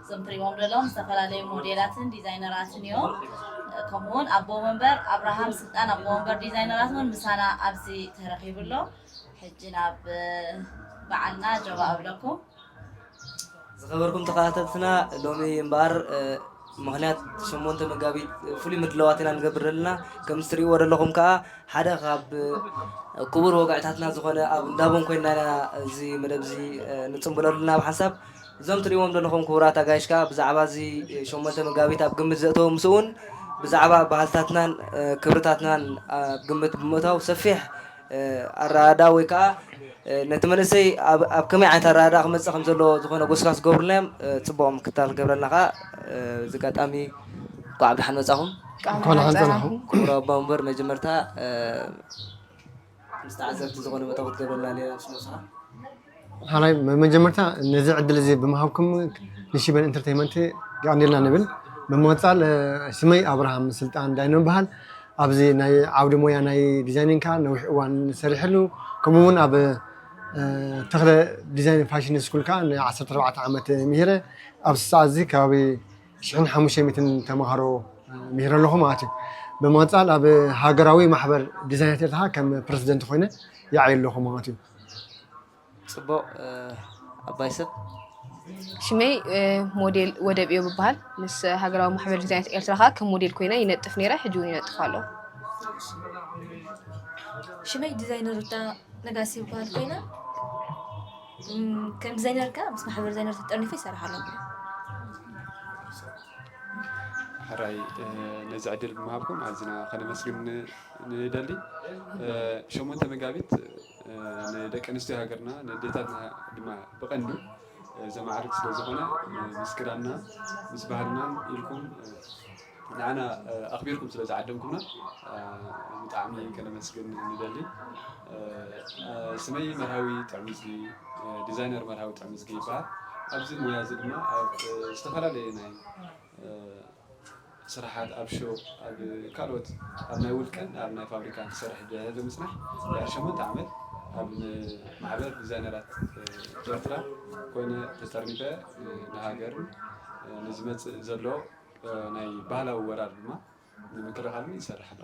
እዞም ትሪእዎም ዘለኹም ዝተፈላለዩ ሞዴላትን ዲዛይነራትን እዮም። ከምኡ እውን ኣቦ ወንበር ኣብርሃም ስልጣን ኣቦ ወንበር ዲዛይነራት እውን ምሳና ኣብዚ ተረኺቡ ኣሎ። ሕጂ ናብ በዓልና ጀባ እብለኩም። ዝኸበርኩም ተኸታተልትና ሎሚ እምበኣር ምክንያት ሸሞንተ መጋቢት ፍሉይ ምድላዋት ኢና ንገብር ዘለና ከምዚ ትሪእዎ ዘለኹም ከዓ ሓደ ካብ ክቡር ወግዕታትና ዝኾነ ኣብ እንዳቦን ኮይና ኢና እዚ መደብ እዚ ንፅምብለሉ ናብ ሓንሳብ እዞም ትርእይዎም ዘለኹም ክቡራት ኣጋይሽ ከኣ ብዛዕባ እዚ ሸሞንተ መጋቢት ኣብ ግምት ዘእተዉ ምስኡውን ብዛዕባ ባህልታትናን ክብርታትናን ኣብ ግምት ብምእታው ሰፊሕ ኣረዳድኣ ወይ ከኣ ነቲ መንእሰይ ኣብ ከመይ ዓይነት ኣረዳድኣ ክመጽእ ከም ዘለዎ ዝኾነ ጎስጓስ ዝገብሩልና እዮም ጽቡቕ ምክትታል ክገብረልና ከኣ እዚ ኣጋጣሚ እንኳዕ ብደሓን መጻኹም ቃል እንኳን ደሓን መጻእኩም። ፀናኹም ክቡር ኣቦ ወንበር መጀመርታ ምስ ተዓዘብቲ ዝኾነ መደብ ክትገብረልና ሌላ ምስ መሱኻ ሓላይ መጀመርታ ነዚ ዕድል እዚ ብምሃብኩም ንሽበን ኢንተርቴይመንት የቀንየልና ንብል ብምቅፃል ስመይ ኣብርሃም ስልጣን ዳይኖ ይበሃል ኣብዚ ናይ ዓውዲ ሞያ ናይ ዲዛይኒንግ ከዓ ነዊሕ እዋን ሰሪሐሉ ከምኡ እውን ኣብ ተክለ ዲዛይን ፋሽን ስኩል ከዓ ን ዓሰርተ ኣርባዕተ ዓመት ምሂረ ኣብዚ ሰዓት እዚ ከባቢ ሽሕን ሓሙሽተ ሚእትን ተምሃሮ ምሂረ ኣለኹ ማለት እዩ። ብምቕፃል ኣብ ሃገራዊ ማሕበር ዲዛይናት ኤርትራ ከም ፕረዚደንት ኮይነ ይዓይ ኣለኹ ማለት እዩ። ፅቡቕ ኣባይ ሰብ ሽመይ ሞዴል ወደብ እዮ ብበሃል ምስ ሃገራዊ ማሕበር ዲዛይናት ኤርትራ ከዓ ከም ሞዴል ኮይነ ይነጥፍ ነይረ ሕጂ እውን ይነጥፍ ኣሎ ሽመይ ዲዛይነር ሩታ ነጋሲ ይበሃል ኮይነ ከም ዲዛይነር ከ ምስ ማሕበር ዲዛይነር ተጠርኒፈ ይሰርሕ ኣለኹ። ሕራይ ነዚ ዕድል ብምሃብኩም ኣዝና ከነመስግን ንደሊ። ሸሞንተ መጋቢት ንደቂ ኣንስትዮ ሃገርና ንዴታትና ድማ ብቐንዱ ዘማዕርግ ስለ ዝኾነ ምስ ክዳንና ምስ ባህልናን ኢልኩም ንዓና ኣኽቢርኩም ስለ ዝዓደምኩምና ብጣዕሚ ከነመስግን ንደሊ። ስመይ መርሃዊ ጥዕምዝጊ፣ ዲዛይነር መርሃዊ ጥዕምዝጊ ይበሃል። ኣብዚ ሙያ እዚ ድማ ኣብ ዝተፈላለየ ናይ ስራሓት ኣብ ሾ ኣብ ካልኦት ኣብ ናይ ውልቀን ኣብ ናይ ፋብሪካን ክሰርሕ ድሕሪ ምፅናሕ ድሕሪ ሸሞንተ ዓመት ኣብ ማሕበር ዲዛይነራት ኤርትራ ኮይነ ተጠርኒፈ ንሃገርን ንዝመፅእ ዘሎ ናይ ባህላዊ ወራር ድማ ንምክልኻል እውን ይሰርሕ ኣሎ።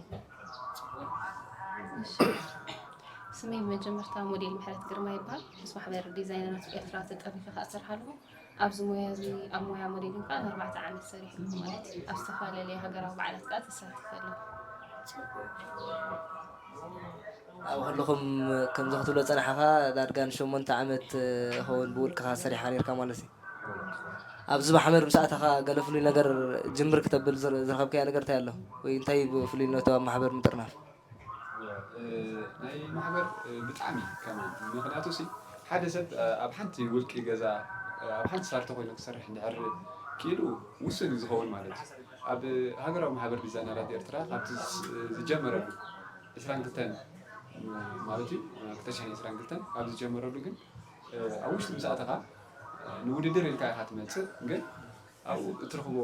ስመይ ብመጀመርታ ሞዴል ምሕረት ግርማ ይበሃል ምስ ማሕበር ዲዛይነራት ኤርትራ ተጠሪፈ ከዓ እሰርሕ ኣለኹ ኣብዚ ሞያ እዚ ኣብ ሞያ ሞዴሊን ከዓ ንኣርባዕተ ዓመት ሰሪሐ ኣለኹ ማለት እዩ ኣብ ዝተፈላለየ ሃገራዊ በዓላት ከዓ ተሳትፈ ኣለኹ ኣብ ከለኹም ከምዚ ክትብሎ ዝጸናሕኻ ዳርጋ ንሸሞንተ ዓመት ይኸውን ብውልቅኻ ሰሪሕካ ነርካ ማለት እዩ ኣብዚ ማሕበር ምስ ኣተኻ ገለ ፍሉይ ነገር ጅምር ክተብል ዝረኸብካዮ ነገር እንታይ ኣሎ? ወይ እንታይ እዩ ፍሉይነቱ ኣብ ማሕበር ምጥርናፍ? ናይ ማሕበር ብጣዕሚ ከማን ምኽንያቱ ሲ ሓደ ሰብ ኣብ ሓንቲ ውልቂ ገዛ ኣብ ሓንቲ ሳርቶ ኮይኑ ክሰርሕ እንድሕር ክኢሉ ውሱን እዩ ዝኸውን ማለት እዩ። ኣብ ሃገራዊ ማሕበር ዲዛይነራት ኤርትራ ካብቲ ዝጀመረሉ ዕስራን ክልተን ማለት እዩ ክልተ ሽሕን ዕስራን ክልተን ካብ ዝጀመረሉ ግን ኣብ ውሽጢ ምስ ኣተኻ ንውድድር ኢልካ ኢኻ ትመጽእ ግን ኣብኡ እትረኽቦ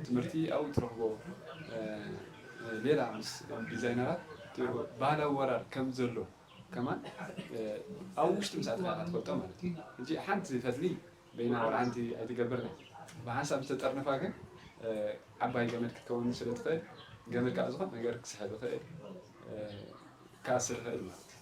ትምህርቲ ኣብኡ እትረኽቦ ሌላ ምስ ዲዛይነራት ባህላዊ ወራር ከም ዘሎ ከማን ኣብ ውሽጢ ምስ ኣተኻ ኢኻ ትፈልጦ ማለት እዩ ሕጂ ሓንቲ ፈትሊ በይና ዋላ ሓንቲ ኣይትገብርን እያ ብሓንሳብ ዝተጠርነፋ ግን ዓባይ ገመድ ክትከውን ስለ ትኽእል ገመድ ካብ ዝኾነ ነገር ክስሕብ ይኽእል ክኣስር ይኽእል ማለት እዩ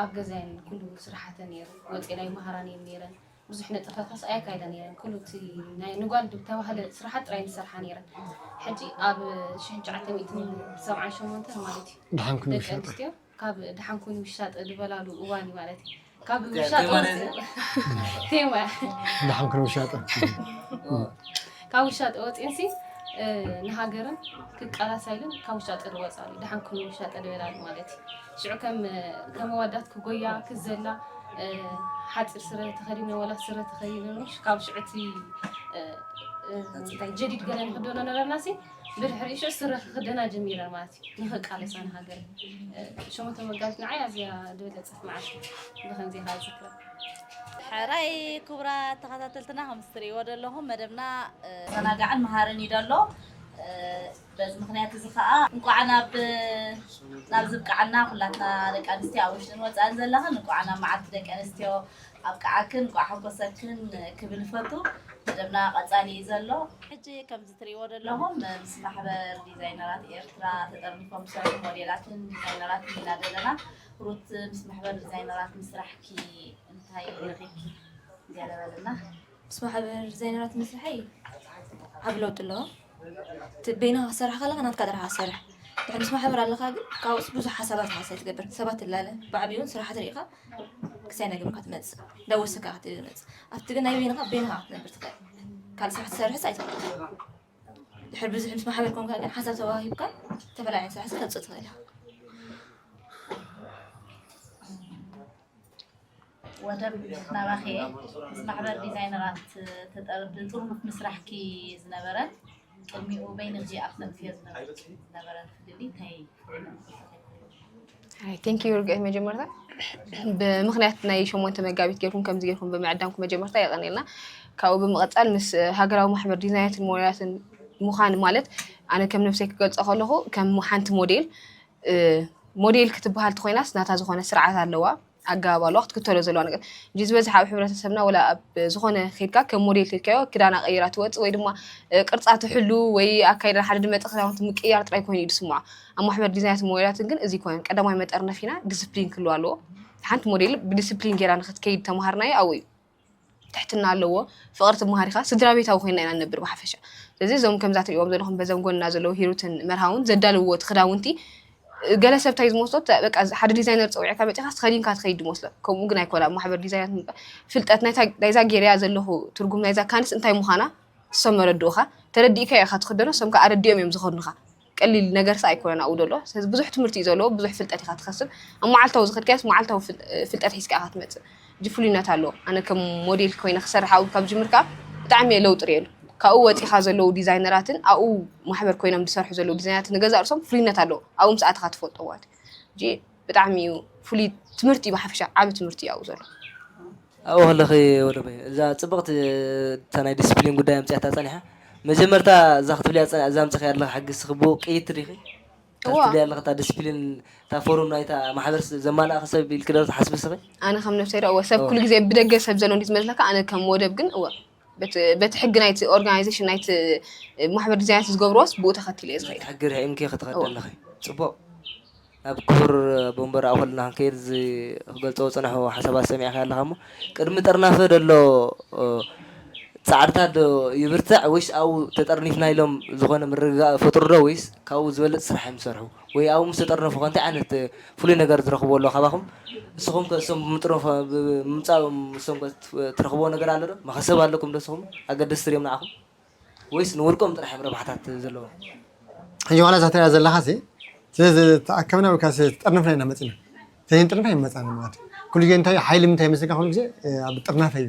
ኣብ ገዛየን ኩሉ ስራሓተን ነይሩ ወፂኤን ኣይመሃራን እየን ነይረን ብዙሕ ንጥፈ ከስ ኣየካይዳ ነይረን ኩሉ እቲ ናይ ንጓል ዝተባህለ ስራሓት ጥራይ ዝሰርሓ ነይረን ሕጂ ኣብ ሽሕን ትሽዓተ ሚእትን ሰብዓን ሸሞንተን ማለት እዩ ደሓን ኩኒ ደቂ ውሻጠ ኣንስትዮ ካብ ደሓን ኩኒ ውሻጠ ዝበላሉ እዋን እዩ ማለት እዩ ካብ ምሻጥ ወፂ- ቴማ ደሓን ኩኒ ውሻጠ ካብ ውሻጠ ወፂእንሲ እ፣ ንሃገርን ክቃላሳ ኢለን ካብ ውሻጠ ዝወፃሉ ደሓን ኩኒ ውሻጠ ዝበላሉ ማለት እዩ ሽዑ ከም ከም ኣዋዳት ክጎያ ክዘላ ሓጺር ስረ ተኸዲነ ወላ ስረ ተኸዲነ ካብ ሽዑ እቲ እንታይ ጀዲድ ገለ ንክደኖ ነበርና ሲ ብድሕሪ ሽዑ ስረ ክክደና ጀሚረ ማለት እዩ ንክቃለሳ ንሃገር ሸሞንተ መጋቢት ንዓይ ኣዝያ ዝበለጸት መዓልቲ ብከምዚ ኢኻ ዝክረ ሕራይ ክቡራ ተኸታተልትና ከም ዝትርእይዎ ዘለኹም መደብና ዘናጋዕን መሃርን እዩ ደሎ በዚ ምኽንያት እዚ ከኣ እንቋዕ ናብ ናብዚ ኣብቅዓና ኩላትና ደቂ ኣንስትዮ ኣብ ውሽጥን ወጻእን ዘለኽን እንቋዕ ናብ መዓልቲ ደቂ ኣንስትዮ ኣብቅዓክን እንቋዕ ሓጎሰክን ክብል ይፈቱ መደብና ቀጻሊ እዩ ዘሎ ሕጂ ከምዚ ትርእይዎ ዘለኹም ምስ ማሕበር ዲዛይነራት ኤርትራ ተጠርኒፎም ዝሰርሑ ሞዴላትን ዲዛይነራትን ኢና ዘለና ሩት ምስ ማሕበር ዲዛይነራት ምስራሕኪ እንታይ ረኺብኪ ገለ በልና ምስ ማሕበር ዲዛይነራት ምስርሐይ ዓቢ ለውጢ ኣለዎ። እቲ በይንኻ ክትሰርሕ ከለኻ ናትካ ጥራሕ እትሰርሕ፣ ድሕሪ ምስ ማሕበር ኣለኻ ግን ካብኡስ ብዙሕ ሓሳባት ኢኻ ስለ እትገብር፣ ንሰባት ትላለ፣ ብዓቢኡውን ስራሓት ርኢኻ ክሳይ ነገር ኢኻ ትመጽእ፣ ዳወስ ከኣ ክትብል እመጽእ። ኣብቲ ግን ናይ በይንኻ በይንኻ ኢኻ ክትነብር ትኽእል፣ ካልእ ስራሕ ክትሰርሕስ ኣይትኽእልን። ድሕሪ ብዙሕ ምስ ማሕበር ኮንካ ግን ሓሳብ ተዋሂብካ ዝተፈላለየ ዓይነት ስራሕ ከተውጽእ ትኽእል ኢኻ። ወደብ ናባኺ እየ ምስ ማሕበር ዲዛይነራት ተጠርዲ ጥርኑፍ ምስራሕኪ ዝነበረ ቅድሚኡ በይኒ እዚ ኣፍለጥዮ ዝነበርኪ ዝነበረ ፍልልይ እንታይ ቴንክ ዩ ርግእ መጀመርታ ብምክንያት ናይ ሸሞንተ መጋቢት ጌርኩም ከምዚ ጌርኩም ብምዕዳምኩም መጀመርታ የቀኒልና ካብኡ ብምቐፃል ምስ ሃገራዊ ማሕበር ዲዛይናትን ሞዴላትን ምዃን ማለት ኣነ ከም ነብሰይ ክገልፆ ከለኹ ከም ሓንቲ ሞዴል ሞዴል ክትበሃል እንተኾይናስ ናታ ዝኾነ ስርዓት ኣለዋ ኣገባብ ኣለዋ ክትክተሎ ዘለዋ ነገር እንጂ ዝበዝሕ ኣብ ሕብረተሰብና ወላ ኣብ ዝኾነ ከድካ ከም ሞዴል ከድካዮ ክዳና ቀይራ ትወፅእ ወይ ድማ ቅርፃ ትሕሉ ወይ ኣካይዳ ሓደ ድመፀ ክዳውንቲ ምቅያር ጥራይ ኮይኑ እዩ ዝስምዖ ኣብ ማሕበር ዲዛይናትን ሞዴላትን ግን እዚ ይኮነን ቀዳማይ መጠርነፊና ዲስፕሊን ክህልዋ ኣለዎ ሓንቲ ሞዴል ብዲስፕሊን ጌራ ንክትከይድ ተምሃርናዮ ኣብኡ እዩ ትሕትና ኣለዎ ፍቅሪ ትመሃር ኢካ ስድራቤታዊ ኮይና ኢና ንነብር ብሓፈሻ ስለዚ እዞም ከምዛ ትሪእዎም ዘለኩም በዞም ጎንና ዘለዉ ሂሩትን መርሃውን ዘዳልውዎ እቲ ክዳውንቲ ገለ ሰብ እንታይ ዝመስሎ ተ- በቃ ሓደ ዲዛይነር ፀዊዕካ መፂእካ ተኸዲንካ ትኸይድ ዝመስሎ ከምኡ ግን ኣይኮነ ኣብ ማሕበር ዲዛይናት ምባ- ፍልጠት ናይታ ናይዛ ጌርያ ዘለኹ ትርጉም ናይዛ ካንስ እንታይ ምዃና ንሶም መረድኡኻ ተረዲእካዮ ኢኻ ትኽደኖ ንሶም ከዓ ኣረዲኦም እዮም ዝኸድኑኻ ቀሊል ነገርሲ ኣይኮነን ኣብኡ ዘሎ ስለዚ ብዙሕ ትምህርቲ እዩ ዘለዎ ብዙሕ ፍልጠት ኢኻ ትኸስብ ኣብ መዓልታዊ ዝኸድካዮስ መዓልታዊ ፍልጠት ሒዝካ ኢኻ ትመፅእ እጅ ፍሉይነት ኣለዎ ኣነ ከም ሞዴል ኮይነ ክሰርሕ ኣብኡ ካብ ጅምር ከዓ ብጣዕሚ እየ ለውጢ ርእየሉ ካብኡ ወፂኻ ዘለዉ ዲዛይነራትን ኣብኡ ማሕበር ኮይኖም ዝሰርሑ ዘለዉ ዲዛይነራትን ንገዛእ ርእሶም ፍሉይነት ኣለዎ ኣብኡ ምስ ኣተኻ ትፈልጦ ማለት እዩ ብጣዕሚ እዩ ፍሉይ ትምህርቲ እዩ ብሓፈሻ ዓብ ትምህርቲ እዩ ኣብኡ ዘሎ ኣብኡ ከለኺ ወደ በይኑ እዛ ጽብቕቲ እታ ናይ ዲሲፕሊን ጉዳይ ኣምጺኣታ ጸኒሓ መጀመርታ እዛ ክትብልያ ዝጸንሐ እዛ ኣምጺኺያ ኣለኺ ሕጊ እስኺ ብኡ ቅይድቲ ዲኺ እታ እዎ ክትብልያ ኣለኺ እታ ዲሲፕሊን እታ ፎርም ናይታ ማሕበር ዘማልኣኺ ሰብ ኢልኪ ዶ ትሓስቢ እስኺ? ኣነ ከም ነብሰይ ዶ እወ ሰብ ኩሉ ግዜ ብደገ ሰብ ዘሎ እንዲዩ ዝመስለካ ኣነ ከም ወደብ ግን እወ። በቲ ሕጊ ናይቲ ኦርጋናይዜሽን ናይቲ ማሕበር ዲዛይናት ዝገብርዎስ ብኡ ተኸቲለ እየ ዝኸይድ። ሕጊ ርሒምኪ ክትኸዲ ኣለኺ። ጽቡቕ። ናብ ክቡር ኣቦ መንበር ኣውክልና ክንከይድ እዚ ክገልጽዎ ዝጸናሑ ሓሳባት ሰሚዕካዮ ኣለኻ እሞ ቅድሚ ጥርናፈ ዘሎ ጻዕርታት ዶ ይብርትዕ ወይስ ኣብኡ ተጠርኒፍና ኢሎም ዝኾነ ምርግጋእ ይፈጥሩ ዶ ወይስ ካብኡ ዝበልጽ ስራሕ እዮም ዝሰርሑ? ወይ ኣብኡ ምስ ተጠርነፉኸ እንታይ ዓይነት ፍሉይ ነገር ዝረኽብዎ ኣሎ ካባኹም? ንስኹምከ እሶም ብምጥርናፎ ብምምጻኦም እሶምከ ትረኽብዎ ነገር ኣሎዶ? መኸሰብ ኣሎኩምዶ ንስኹም? ኣገደስቲ ድዮም ንዓኹም? ወይስ ንውልቆም ጥራሕ እዮም ረብሓታት ዘለዎም? ሕጂ ዋላ እዛ ትሪኣ ዘለኻሲ እቲ ዝተኣከብና ወይ ከኣ ዝተጠርነፍና ኢና መጺና። እንተዘይንጥርነፍ ኣይምመጻእናን ማለት እዩ። ኩሉ ግዜ እንታይ እዩ ሓይሊ ምንታይ ይመስለካ ኩሉ ግዜ ኣብ ጥርናፈ እዩ።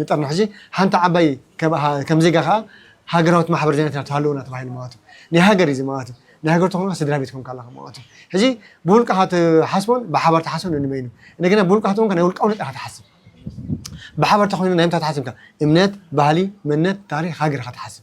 ንጠርኒ ሕጂ ሓንቲ ዓባይ ከም ዜጋ ከኣ ሃገራዊት ማሕበር ዜና ኤርትራ ትሃልወና ተባሂሉ ማለት እዩ። ናይ ሃገር እዩ እዚ ማለት እዩ። ናይ ሃገር ተኾንካ ስድራ ቤት ኮንካ ኣለኻ ማለት እዩ። ሕጂ ብውልቅኻ ትሓስቦን ብሓባር ትሓስቦን ንንበይኑ። እንደገና ብውልቅኻ ተኾንካ ናይ ውልቃዊ ነጥቢ ኢኻ ትሓስብ። ብሓባር ተኾይኑ ናይ ምንታይ ትሓስብ ኢኻ እምነት፣ ባህሊ፣ መንነት፣ ታሪኽ፣ ሃገር ኢኻ ትሓስብ።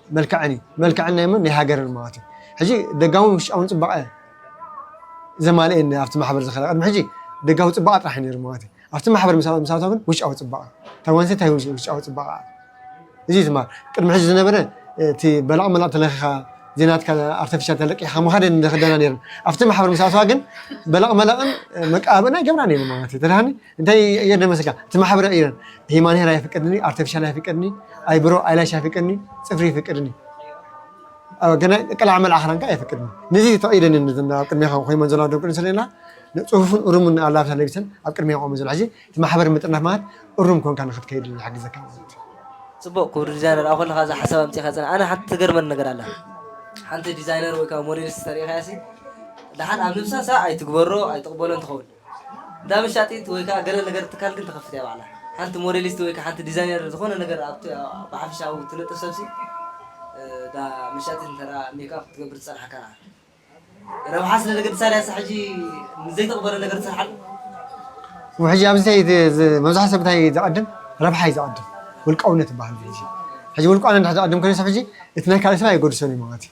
መልክዐን እዩ መልክዐን ናይ መን ናይ ሃገረን ማለት እዩ ሕጂ ደጋውን ውሽጣውን ጽባቐ ዘማልኤ ኣብቲ ማሕበር ዝኸረ ቅድሚ ሕጂ ደጋዊ ጽባቐ ጥራሕ እዩ ነይሩ ማለት እዩ ኣብቲ ማሕበር ምስ ኣቶ ግን ውሽጣዊ ጽባቐ እታ ጓል ኣንስተይቲ እንታይ ውሽጣዊ ጽባቐ እዚ እዩ ትማር ቅድሚ ሕጂ ዝነበረ እቲ በላቕ መላቕ ተለኺኻ ዜናትካ ኣርተፊሻል ተለቂኻ ምኻደ ንደክደና ነይረን ኣብቲ ማሕበር ምስ ኣተዋ ግን በላቕ መላቕን መቃብእን ኣይገብራ ነይሩ ማለት እዩ ተዳሃኒ እንታይ እየ ደመስልካ እቲ ማሕበረ ኢረን ሂማን ሄር ኣይፍቀድኒ ኣርቲፊሻል ኣይፍቀድኒ ኣይብሮ ኣይላሽ ኣይፍቀድኒ ፅፍሪ ይፍቀድኒ ገና ቀላዕ መልዓ ክዳንካ ኣይፍቅድኒ ነዚ ፈቒደኒ ኣብ ቅድሜኻ ኮይመን ዘለዋ ደቂ ኣንስትዮ ሌላ ፅሁፍን እሩምን ኣላብሳ ለቢሰን ኣብ ቅድሜ ቆመ ዘሎ ሕዚ እቲ ማሕበር ምጥርናፍ ማለት እሩም ኮንካ ንክትከይድ ይሕግዘካ ማለት ፅቡቅ ክብሪ ዲዛይነር ኣብ ከለካ እዛ ሓሳብ ኣምፂኻ ፅና ኣነ ሓንቲ ትገርመኒ ነገር ኣላ ሓንቲ ዲዛይነር ወይ ከዓ ሞዴሊስት ተሪኢኻያሲ ደሓን ኣብ ልብሳ ሳዕ ኣይትግበሮ ኣይትቕበሎ እንትኸውን እንዳ መሻጢት ወይ ከኣ ገለ ነገር ትካል ግን ትኸፍት እያ ባዕላ። ሓንቲ ሞዴሊስት ወይ ከኣ ሓንቲ ዲዛይነር ዝኾነ ነገር ኣብቲ ብሓፈሻዊ ትነጥፍ ሰብሲ እታ መሻጢት እንተ ሜክኣፕ ክትገብር ትጸንሓካ ንዓ ረብሓ ስለ ዘገድሳ ድያሳ ሕጂ ንዘይተቕበሎ ነገር ትሰርሓሉ? ሕጂ ኣብዚ እንታይ መብዛሕትኡ ሰብ እንታይ ዘቐድም ረብሓ እዩ ዘቐድም ውልቃውነት ይበሃል ሕጂ ውልቃውነት እንድሕር ዘቐድም ኮይኑ ሰብ ሕጂ እቲ ናይ ካልእ ሰብ ኣየገድሶን እዩ ማለት እዩ።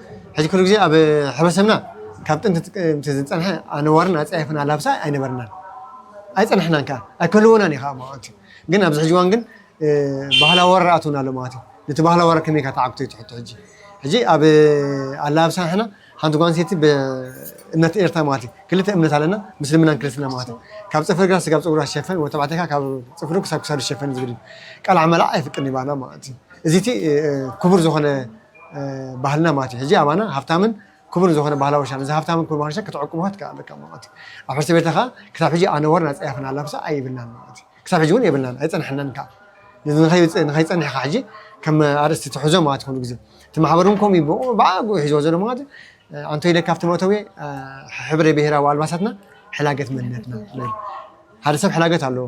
ሕዚ ኩሉ ግዜ ኣብ ሕብረተሰብና ካብ ጥንቲ ምስ ዝፀንሐ ኣነዋርን ኣፀያፍን ኣላብሳ ኣይነበርናን ኣይፀንሕናን ከዓ ኣይከልወናን እዩ ከዓ ማለት እዩ ግን ኣብዚ ሕጂ እዋን ግን ባህላዊ ወረራ ኣትውና ኣሎ ማለት እዩ ነቲ ባህላዊ ወረራ ከመይ ኢልካ ተዓግቶ እዩ ትሕቶ ሕጂ ሕጂ ኣብ ኣላብሳ ንሕና ሓንቲ ጓል ኣንስተይቲ ብእምነት ኤርትራ ማለት እዩ ክልተ እምነት ኣለና ምስልምናን ክርስትና ማለት እዩ ካብ ፅፍሪ ግራ ስጋብ ፀጉራ ዝሸፈን ወይ ተባዕታይ ከዓ ካብ ፅፍሩ ክሳብ ክሳዱ ዝሸፈን ዝብል እዩ ቀልዓ መልዓ ኣይፍቅድን ይባና ማለት እዩ እዚ እቲ ክቡር ዝኾነ ባህልና ማለት እዩ። ሕዚ ኣባና ሃብታምን ክቡርን ዝኾነ ባህላ ወርሻ ነዚ ሃብታምን ክቡር ባህላ ወርሻ ከተዕቁብኻ ትከእ ኣለካ ማለት እዩ። ኣብ ሕርሲ ቤተ ከኣ ክሳብ ሕጂ ኣነዋርን ኣጸያፍን ኣላብሳ ኣይብልናን ማለት እዩ። ክሳብ ሕጂ እውን የብልናን ኣይጸንሐናን ከኣ። ነዚ ንኸይ ንኸይጸንሕ ኢኻ ሕጂ ከም ኣርእስቲ ትሕዞ ማለት ኩሉ ግዜ። እቲ ማሕበር እውን ከምኡ እዩ ብኡ ብኣግኡ ሒዝዎ ዘሎ ማለት እዩ። ኣንቶይ ኢለ ካብቲ መእተዊ ሕብረ ብሄራዊ ኣልባሳትና ሕላገት መንነትና ንብል። ሓደ ሰብ ሕላገት ኣለዎ።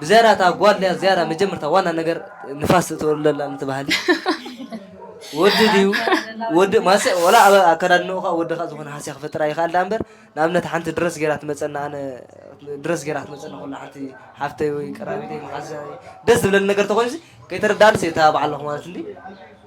ብዝያዳ እታ ጓል ድያ ዝያዳ መጀመርታ ዋና ነገር ንፋስ እተወልደላ ነቲ ባህሊ ወዲ ድዩ ወዲ ማሰ ወላ ኣብ ኣከዳድንኡ ከዓ ወዲ ከዓ ዝኾነ ሃስያ ክፈጥራ ይኽኣል ዳኣ እምበር ንኣብነት ሓንቲ ድረስ ገይራ ትመፀና ኣነ ድረስ ገይራ ክትመፀና ከሎ ሓንቲ ሓፍተይ ወይ ቀራቢተይ መሓዛይ ደስ ዝብለኒ ነገር ተኾይኑሲ ከይተረድኣንስ እየ ተባባዓለኹ ማለት እንዲ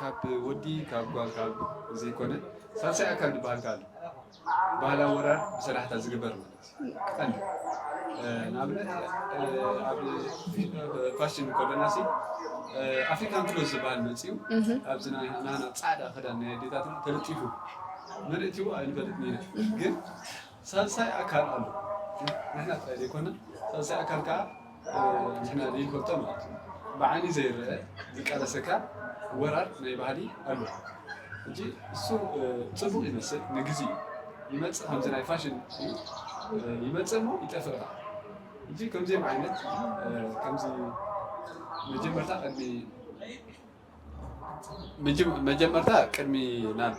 ካብ ወዲ ካብ ጓል ካብ ዘይኮነ ሳልሳይ ኣካል ዝበሃል ከኣ ኣሎ። ባህላዊ ወራር ብሰላሕታ ዝግበር ማለት እዩ። ቀንዲ ንኣብነት ኣብ ፋሽን ከሎናሲ ኣፍሪካን ክሎዝ ዝበሃል መጺኡ ኣብዚ ናና ጻዕዳ ክዳን ናይ ኣዴታትና ተለጢፉ መን እትይዎ ኣይንፈልጥን ኢና ግን ሳልሳይ ኣካል ኣሎ ንሕና ጥራይ ዘይኮና ሳልሳይ ኣካል ከኣ ንሕና ዘይንፈልጦ ማለት እዩ ብዓይኒ ዘይረኣ ዝቃለሰካ ወራር ናይ ባህሊ ኣሎ ሕጂ እሱ ጽቡቅ ይመስል ንግዚ ይመጽእ ከምዚ ናይ ፋሽን ይመጽእ እሞ ይጠፍእ ከኣ ሕጂ ከምዚኦም ዓይነት ከምዚ መጀመርታ ቅድሚ መጀመርታ ቅድሚ ናብ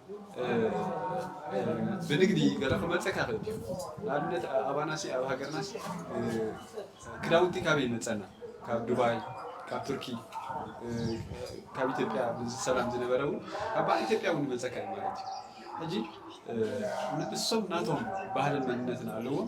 ብንግዲ ገለ ክመፀካ ይኽእል እዩ ንኣብነት ኣባናሲ ኣብ ሃገርናሲ ክዳውንቲ ካበይ ይመፀና ካብ ዱባይ ካብ ቱርኪ ካብ ኢትዮጵያ ብሰላም ዝነበረ እውን ካብ በዓል ኢትዮጵያ እውን ይመፀካ እዩ ማለት እዩ ሕጂ ንእሶም ናቶም ባህልን መንነትን ኣለዎም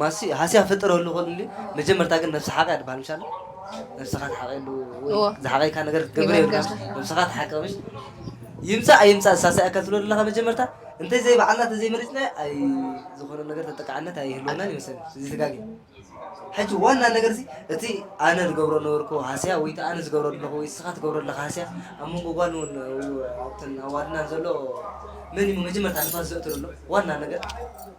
ማሲ ሃስያ ፍጠረሉ ክእልሊ መጀመርታ ግን ነብሲ ሓቒ ኣድባሃል ምሽ ኣለ ነብስኻ ትሓቐሉ ወይ እዎ ዝሓቐይካ ነገር ክትገብር የብልካ ይበርገር ምሽ ነብስኻ ትሓቂ ምሽ ይምጻእ ኣይምጻእ ሳሳይ ኣካል ትብሎ ዘለኻ መጀመርታ እንተ ዘይባዕልና እንተ ዘይመሪጽናዮ ኣይ ዝኾነ ነገር ተጠቃዕነት ኣይህልወናን ይመስለኒ እዚ ተጋጊ ሕጂ ዋና ነገር እዚ እቲ ኣነ ዝገብሮ ነበርኩ ሃስያ ወይ እቲ ኣነ ዝገብሮ ኣለኹ ወይ እስኻ ትገብሮ ኣለኻ ሃስያ ኣብ መንጎ ጓል እውን ኣብተን ኣዋልድናን ዘሎ መን እዩ መጀመርታ ንፋስ ዘእቱ ዘሎ ዋና ነገር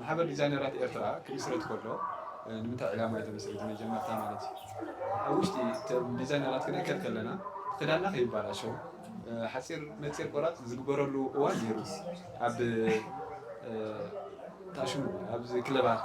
ማሕበር ዲዛይነራት ኤርትራ ክምስረት ከሎ ንምንታይ ዕላማ እዩ ተመስሪቱ? መጀመርታ ማለት እዩ ኣብ ውሽጢ ዲዛይነራት ክንእከብ ከለና ክዳንና ከይባላሸው ሓፂር ነፂር ቆራፅ ዝግበረሉ እዋን ነይሩ ኣብ ታሽሙ ኣብዚ ክለባት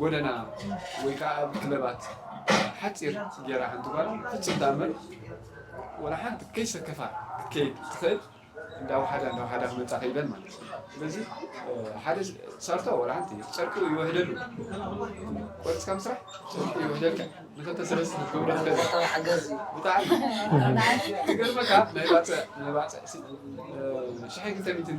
ጎደና ወይ ከኣ ኣብ ክለባት ሓጺር ጌራ ሓንቲ ጓል ፍጹም ተኣምር ወላ ሓንቲ ከይሰከፋ ክትከይድ ትኽእል እንዳ ውሓዳ እንዳ ውሓዳ ክመጻ ከይደን ማለት እዩ ስለዚ ሓደ ሰርቶ ወላ ሓንቲ ጨርቁ ይወህደሉ ቆርጽካ ምስራሕ ጨርቁ ይወህደልካ ንክልተ ሰለስተ ክትገብሮ ትኽእል ብጣዕሚ ክገርመካ ናይ ባጽዕ ናይ ባጽዕ ሲ ሽሐ ክልተ ሚእትን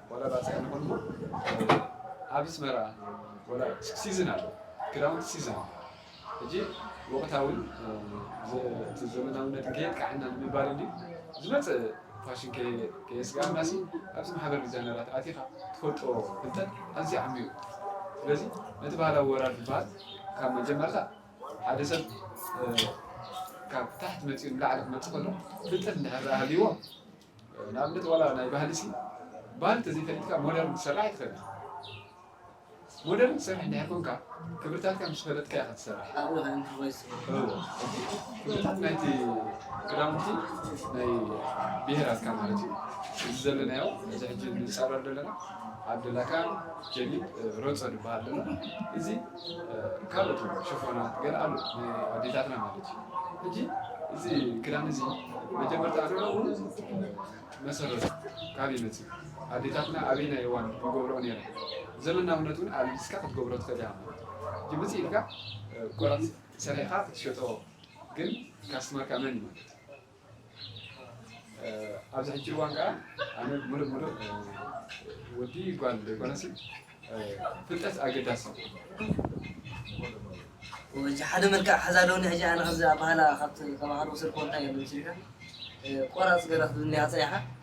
ዋላ ባፅዕን ይኹን እሞ ኣብ ኣስመራ ዋላ ሲዝን ኣሎ ክዳውንቲ ሲዝን ኣሎ ሕጂ ወቕታውን እቲ ዘመናውነት ከየጥቃዕና ንምባል እንዲ ዝመፅእ ፋሽን ከየስጋእና ሲ ኣብዚ ማሕበር ዲዛይነራት ኣቲኻ ትፈልጦ ፍልጠት ኣዝዩ ዓሚዩ ስለዚ ነቲ ባህላዊ ወራር ዝበሃል ካብ መጀመርታ ሓደ ሰብ ካብ ታሕቲ መፂኡ ንላዕሊ ክመፅእ ከሎ ፍልጠት እንድሕር ሃልይዎ ንኣብነት ዋላ ናይ ባህሊሲ ባህሊ ተዘይፈሊጥካ ሞደርን ክትሰርሕ ኣይትኽእልን ኢኻ። ሞደርን ትሰርሕ እንድሕር ኮንካ ክብርታትካ ምስ ፈለጥካ ኢኻ ትሰርሕ። እወ፣ ክብርታት ናይቲ ክዳውንቲ ናይ ብሄራትካ ማለት እዩ። እዚ ዘለናዮ እዚ ሕጂ ንፃረር ዘለና ዓብደላካን ጀሊብ ሮፆ ንበሃል ኣለና። እዚ ካልኦት ሽፎናት ገለ ኣሉ ናይ ኣዴታትና ማለት እዩ ሕጂ እዚ ክዳን እዚ መጀመርታ ኣንዕኡ መሰረቱ ካብ ይመፅእ ኣዴታትና ኣበይናይ እዋን ይገብረኦ ነይረ ዘመናውነት እውን ኣልቢስካ ክትገብሮ ትኽእል ኢኻ ማለት እዩ ሕጂ ብፅእ ኢልካ ቆረፅ ሰሪሕኻ ክትሸጦ ግን ካስትመርካ መን እዩ ማለት እዩ ኣብዚ ሕጂ እዋን ከዓ ኣነ ሙሉእ ሙሉእ ወዲ ጓል ዘይኮነሲ ፍልጠት ኣገዳሲ ሕጂ ሓደ መልክዕ ሓዛ ኣለውኒ ሕጂ ኣነ ከምዚ ኣባህላ ካብቲ ተማሃሮ ዝስርኮ እንታይ ኣሎ ምስልካ ቆራፅ ገለ ክትብልኒ እያ ፀኒሓ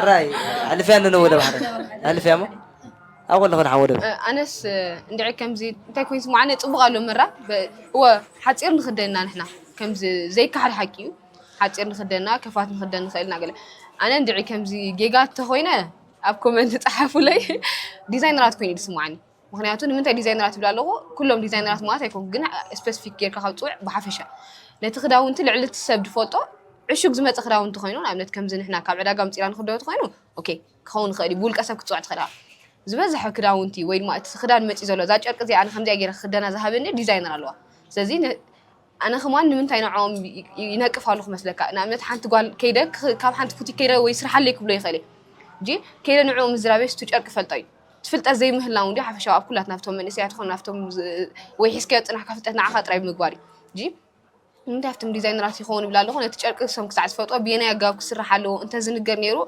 ዓራይ ኣልፍያ ኣለነ ወደብ ሓደ ኣልፍያ ሞ ኣብኡ ኣለኹ ንሓ ወደብ ኣነስ እንድዒ ከምዚ እንታይ ኮይኑ ስማዕ ኣነ ፅቡቅ ኣሎ መራ በ- እወ ሓፂር ንክደና ንሕና ከምዚ ዘይካሓድ ሓቂ እዩ ሓፂር ንክደና ከፋት ንክደን ንኽእል ኢና ገለ ኣነ እንድዒ ከምዚ ጌጋ እንተኮይነ ኣብ ኮመንት ፀሓፉለይ ዲዛይነራት ኮይኑ እዩ ዝስማዓኒ ምክንያቱ ንምንታይ ዲዛይነራት ይብል ኣለኹ ኩሎም ዲዛይነራት ማለት ኣይኮንኩ ግን ስፔሲፊክ ጌርካ ካብ ፅውዕ ብሓፈሻ ነቲ ክዳውንቲ ልዕሊ እቲ ሰብ ዝፈልጦ ዕሹግ ዝመፀ ክዳውንቲ ኮይኑ ንኣብነት ከምዚ ንሕና ካብ ዕዳጋ ምፂና ንክዶ ኮይኑ ኦኬ ክኸውን ይኽእል እዩ ብውልቀ ሰብ ክትፅውዕ ትኽእል ዝበዝሐ ክዳውንቲ ወይ ድማ እቲ ክዳን መፂ ዘሎ እዛ ጨርቂ እዚኣ ከምዚኣ ጌረ ክክደና ዝሃበኒ ዲዛይነር ኣለዋ ስለዚ ኣነ ከማን ንምንታይ ንዕኦም ይነቅፍ ኣለኹ መስለካ ንኣብነት ሓንቲ ጓል ከይደ ካብ ሓንቲ ቡቲክ ከይደ ወይ ስራሕ ኣለይ ክብሎ ይኽእል እጂ ከይደ ንዕኡ ምዝራቤ ስቱ ጨርቂ ፈልጦ እዩ ትፍልጠት ዘይምህላው እንዲ ሓፈሻዊ ኣብ ኩላት ናብቶም መንእሰያት ይኹን ናብቶም ወይ ሒዝካዮ ፅናሕካ ፍልጠት ንዓኻ ጥራይ ብምግባር እዩ እጂ ንምንታይ ኣብቶም ዲዛይነራት ይኸውን ይብላ ኣለኹ ነቲ ጨርቂ እሶም ክሳዕ ዝፈልጦ ብየናይ ኣገባብ ክስራሕ ኣለዎ እንተዝንገር ነይሩ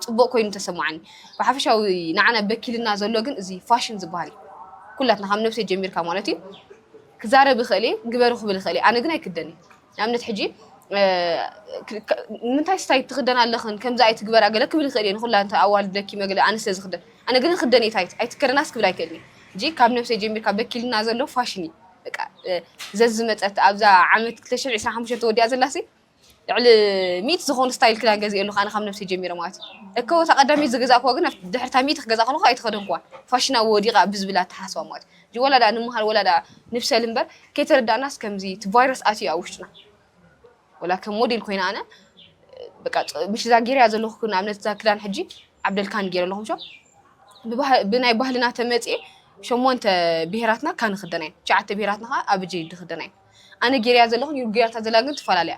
ፅቡቅ ኮይኑ ተሰማዓኒ ብሓፈሻዊ ንዓና በኪልና ዘሎ ግን እዚ ፋሽን ዝበሃል እዩ ኩላትና ካብ ነብሰይ ጀሚርካ ማለት እዩ ክዛረብ ይኽእል እየ ግበሩ ክብል ይኽእል እየ ኣነ ግን ኣይክደን እየ ንኣብነት ሕጂ ንምንታይ ስታይ ትክደን ኣለኽን ከምዚ ኣይትግበራ ገለ ክብል ይኽእል እየ ንኩላ እንተ ኣዋልድ ለኪመ ገለ ኣነ ስለ ዝክደን ኣነ ግን ክደን እየ ታይት ኣይትከደናስ ክብል ኣይክእልን እየ ሕጂ ካብ ነብሰይ ጀሚርካ በኪልና ዘሎ ፋሽን እዩ በቃ ዘዝመጸት ኣብዛ ዓመት 2025 ተወዲኣ ዘላሲ ልዕሊ ሚእቲ ዝኾኑ ስታይል ክዳን ገዚኤ ኣሎኹ፣ ኣነ ካብ ነብሰይ ጀሚረ ማለት እዩ። እከወ እታ ቀዳመይቲ ዝገዛእኩዋ ግን ኣብቲ ድሕሪ እታ ሚእቲ ክገዝኣ ከለኹ ኣይተኸደንኩዋን፣ ፋሽና ወዲቓ ብዝብል ኣተሓሳስባ ማለት እዩ። ሕጂ ወላ ደኣ ንምሃር ወላ ደኣ ንብሰል እምበር ከይተረዳእናስ ከምዚ እቲ ቫይረስ ኣትዩ እዩ ኣብ ውሽጥና። ወላ ከም ሞዴል ኮይነ ኣነ በቃ ምሽ እዛ ጌረያ ዘለኹ ንኣብነት እዛ ክዳን ሕጂ ዓብደልካን ጌረ ኣለኹ ምሾ ብባህ- ብናይ ባህልና ተመጽኤ ሸሞንተ ብሄራትና ካን ይኽደና እየን ትሽዓተ ብሄራትና ከዓ ኣብጀ ይድኽደና እየን ኣነ ጌረያ ዘለኹ ንዩርጉ ጌራታ ዘላ ግን ትፈላለ እያ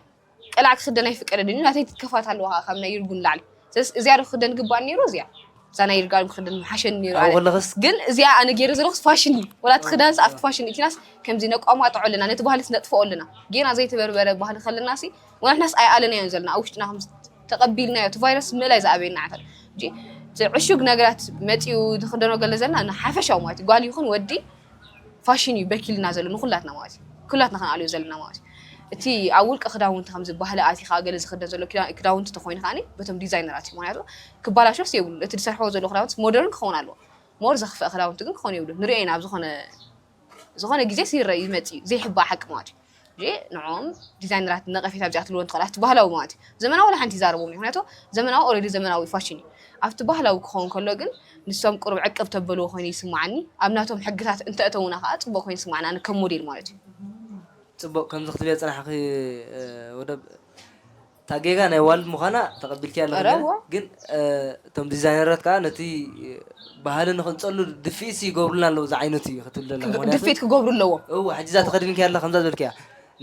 ቀላዕ ክኽደን ኣይፍቀደን እዩ ናተይ ትከፋት ኣለዋ ከኣ ካብ ናይ ይርጉ ንላዕሊ ስለዚ እዚኣ ዶ ክኽደን ግባእ ነይሩ እዚኣ እዛ ናይ ይርጋ ክኽደን ምሓሸኒ ነይሩ ኣብኡ ኣነ ከለኽስ ግን እዚኣ ኣነ ጌረ ዘለኹስ ፋሽን እዩ ወላ እቲ ክዳንስ ኣብቲ ፋሽን እዩ እቲናስ ከምዚ ነቋማጥዖ ኣለና ነቲ ባህልስ ነጥፍኦ ኣለና ጌና ዘይተበርበረ ባህሊ ከለና ሲ ወንሕናስ ኣይኣለናዮን ዘለና ኣብ ውሽጥና ከም ተቐቢልናዮ እቲ ቫይረስ ምእላይ ዝኣበየና ዓታት እንጂ እቲ ዕሹግ ነገራት መፂኡ ዝኽደኖ ገለ ዘለና ንሓፈሻዊ ማለት እዩ ጓል ይኹን ወዲ ፋሽን እዩ በኪልና ዘሎ ንኩላትና ማለት እዩ ኩላትና ክንኣልዮ ዘለና ማለት እዩ እቲ ኣብ ውልቀ ክዳውንቲ ከምዚ ባህሊ ኣቲኻ ገለ ዝኽደን ዘሎ ክዳውንቲ ተኾይኑ ከዓኒ በቶም ዲዛይነራት እዩ ምክንያቱ ክባላሾስ የብሉ እቲ ዝሰርሕዎ ዘሎ ክዳውንቲ ሞደርን ክኸውን ኣለዎ ሞር ዘኽፍአ ክዳውንቲ ግን ክኾን የብሉ ንሪኦ ኢና ኣብ ዝኾነ ዝኾነ ግዜ ይረእ ይመጽእ እዩ ዘይሕባእ ሓቂ ማለት እዩ እ ንዕኦም ዲዛይነራት ነቐፌታ ብዚኣ ትልዎ ትኽእል ኣብቲ ባህላዊ ማለት እዩ ዘመናዊ ንሓንቲ ይዛረቦም እዩ ምክንያቱ ዘመናዊ ኦልሬዲ ዘመናዊ ፋሽን እዩ ኣብቲ ባህላዊ ክኸውን ከሎ ግን ንሶም ቅሩብ ዕቅብ ተበልዎ ኮይኑ ይስማዓኒ ኣብ ናቶም ሕግታት እንተእተውና ከዓ ፅቡቅ ኮይኑ ይስማዓኒ ኣነ ከም ሞዴል ማለት እዩ ፅቡቅ ከምዚ ክትብሊ የፅናሕኺ ወደብ እታ ጌጋ ናይ ዋልድ ምዃና ተቐቢልክያ ኣለኺ እረ እሞ እወ። ግን እቶም ዲዛይነራት ከኣ ነቲ ባህሊ ንኽንጸሉ ድፍኢትሲ ይገብሩልና ኣለዉ ዝዓይነቱ እዩ ክትብል ዘለኻ። ክግ- ምኽንያቱ ድፍኢት ክገብሩ ኣለዎም እወ ሕጂ እዛ ተኸዲንክያ ኣለኻ ከምዛ ዝበልክያ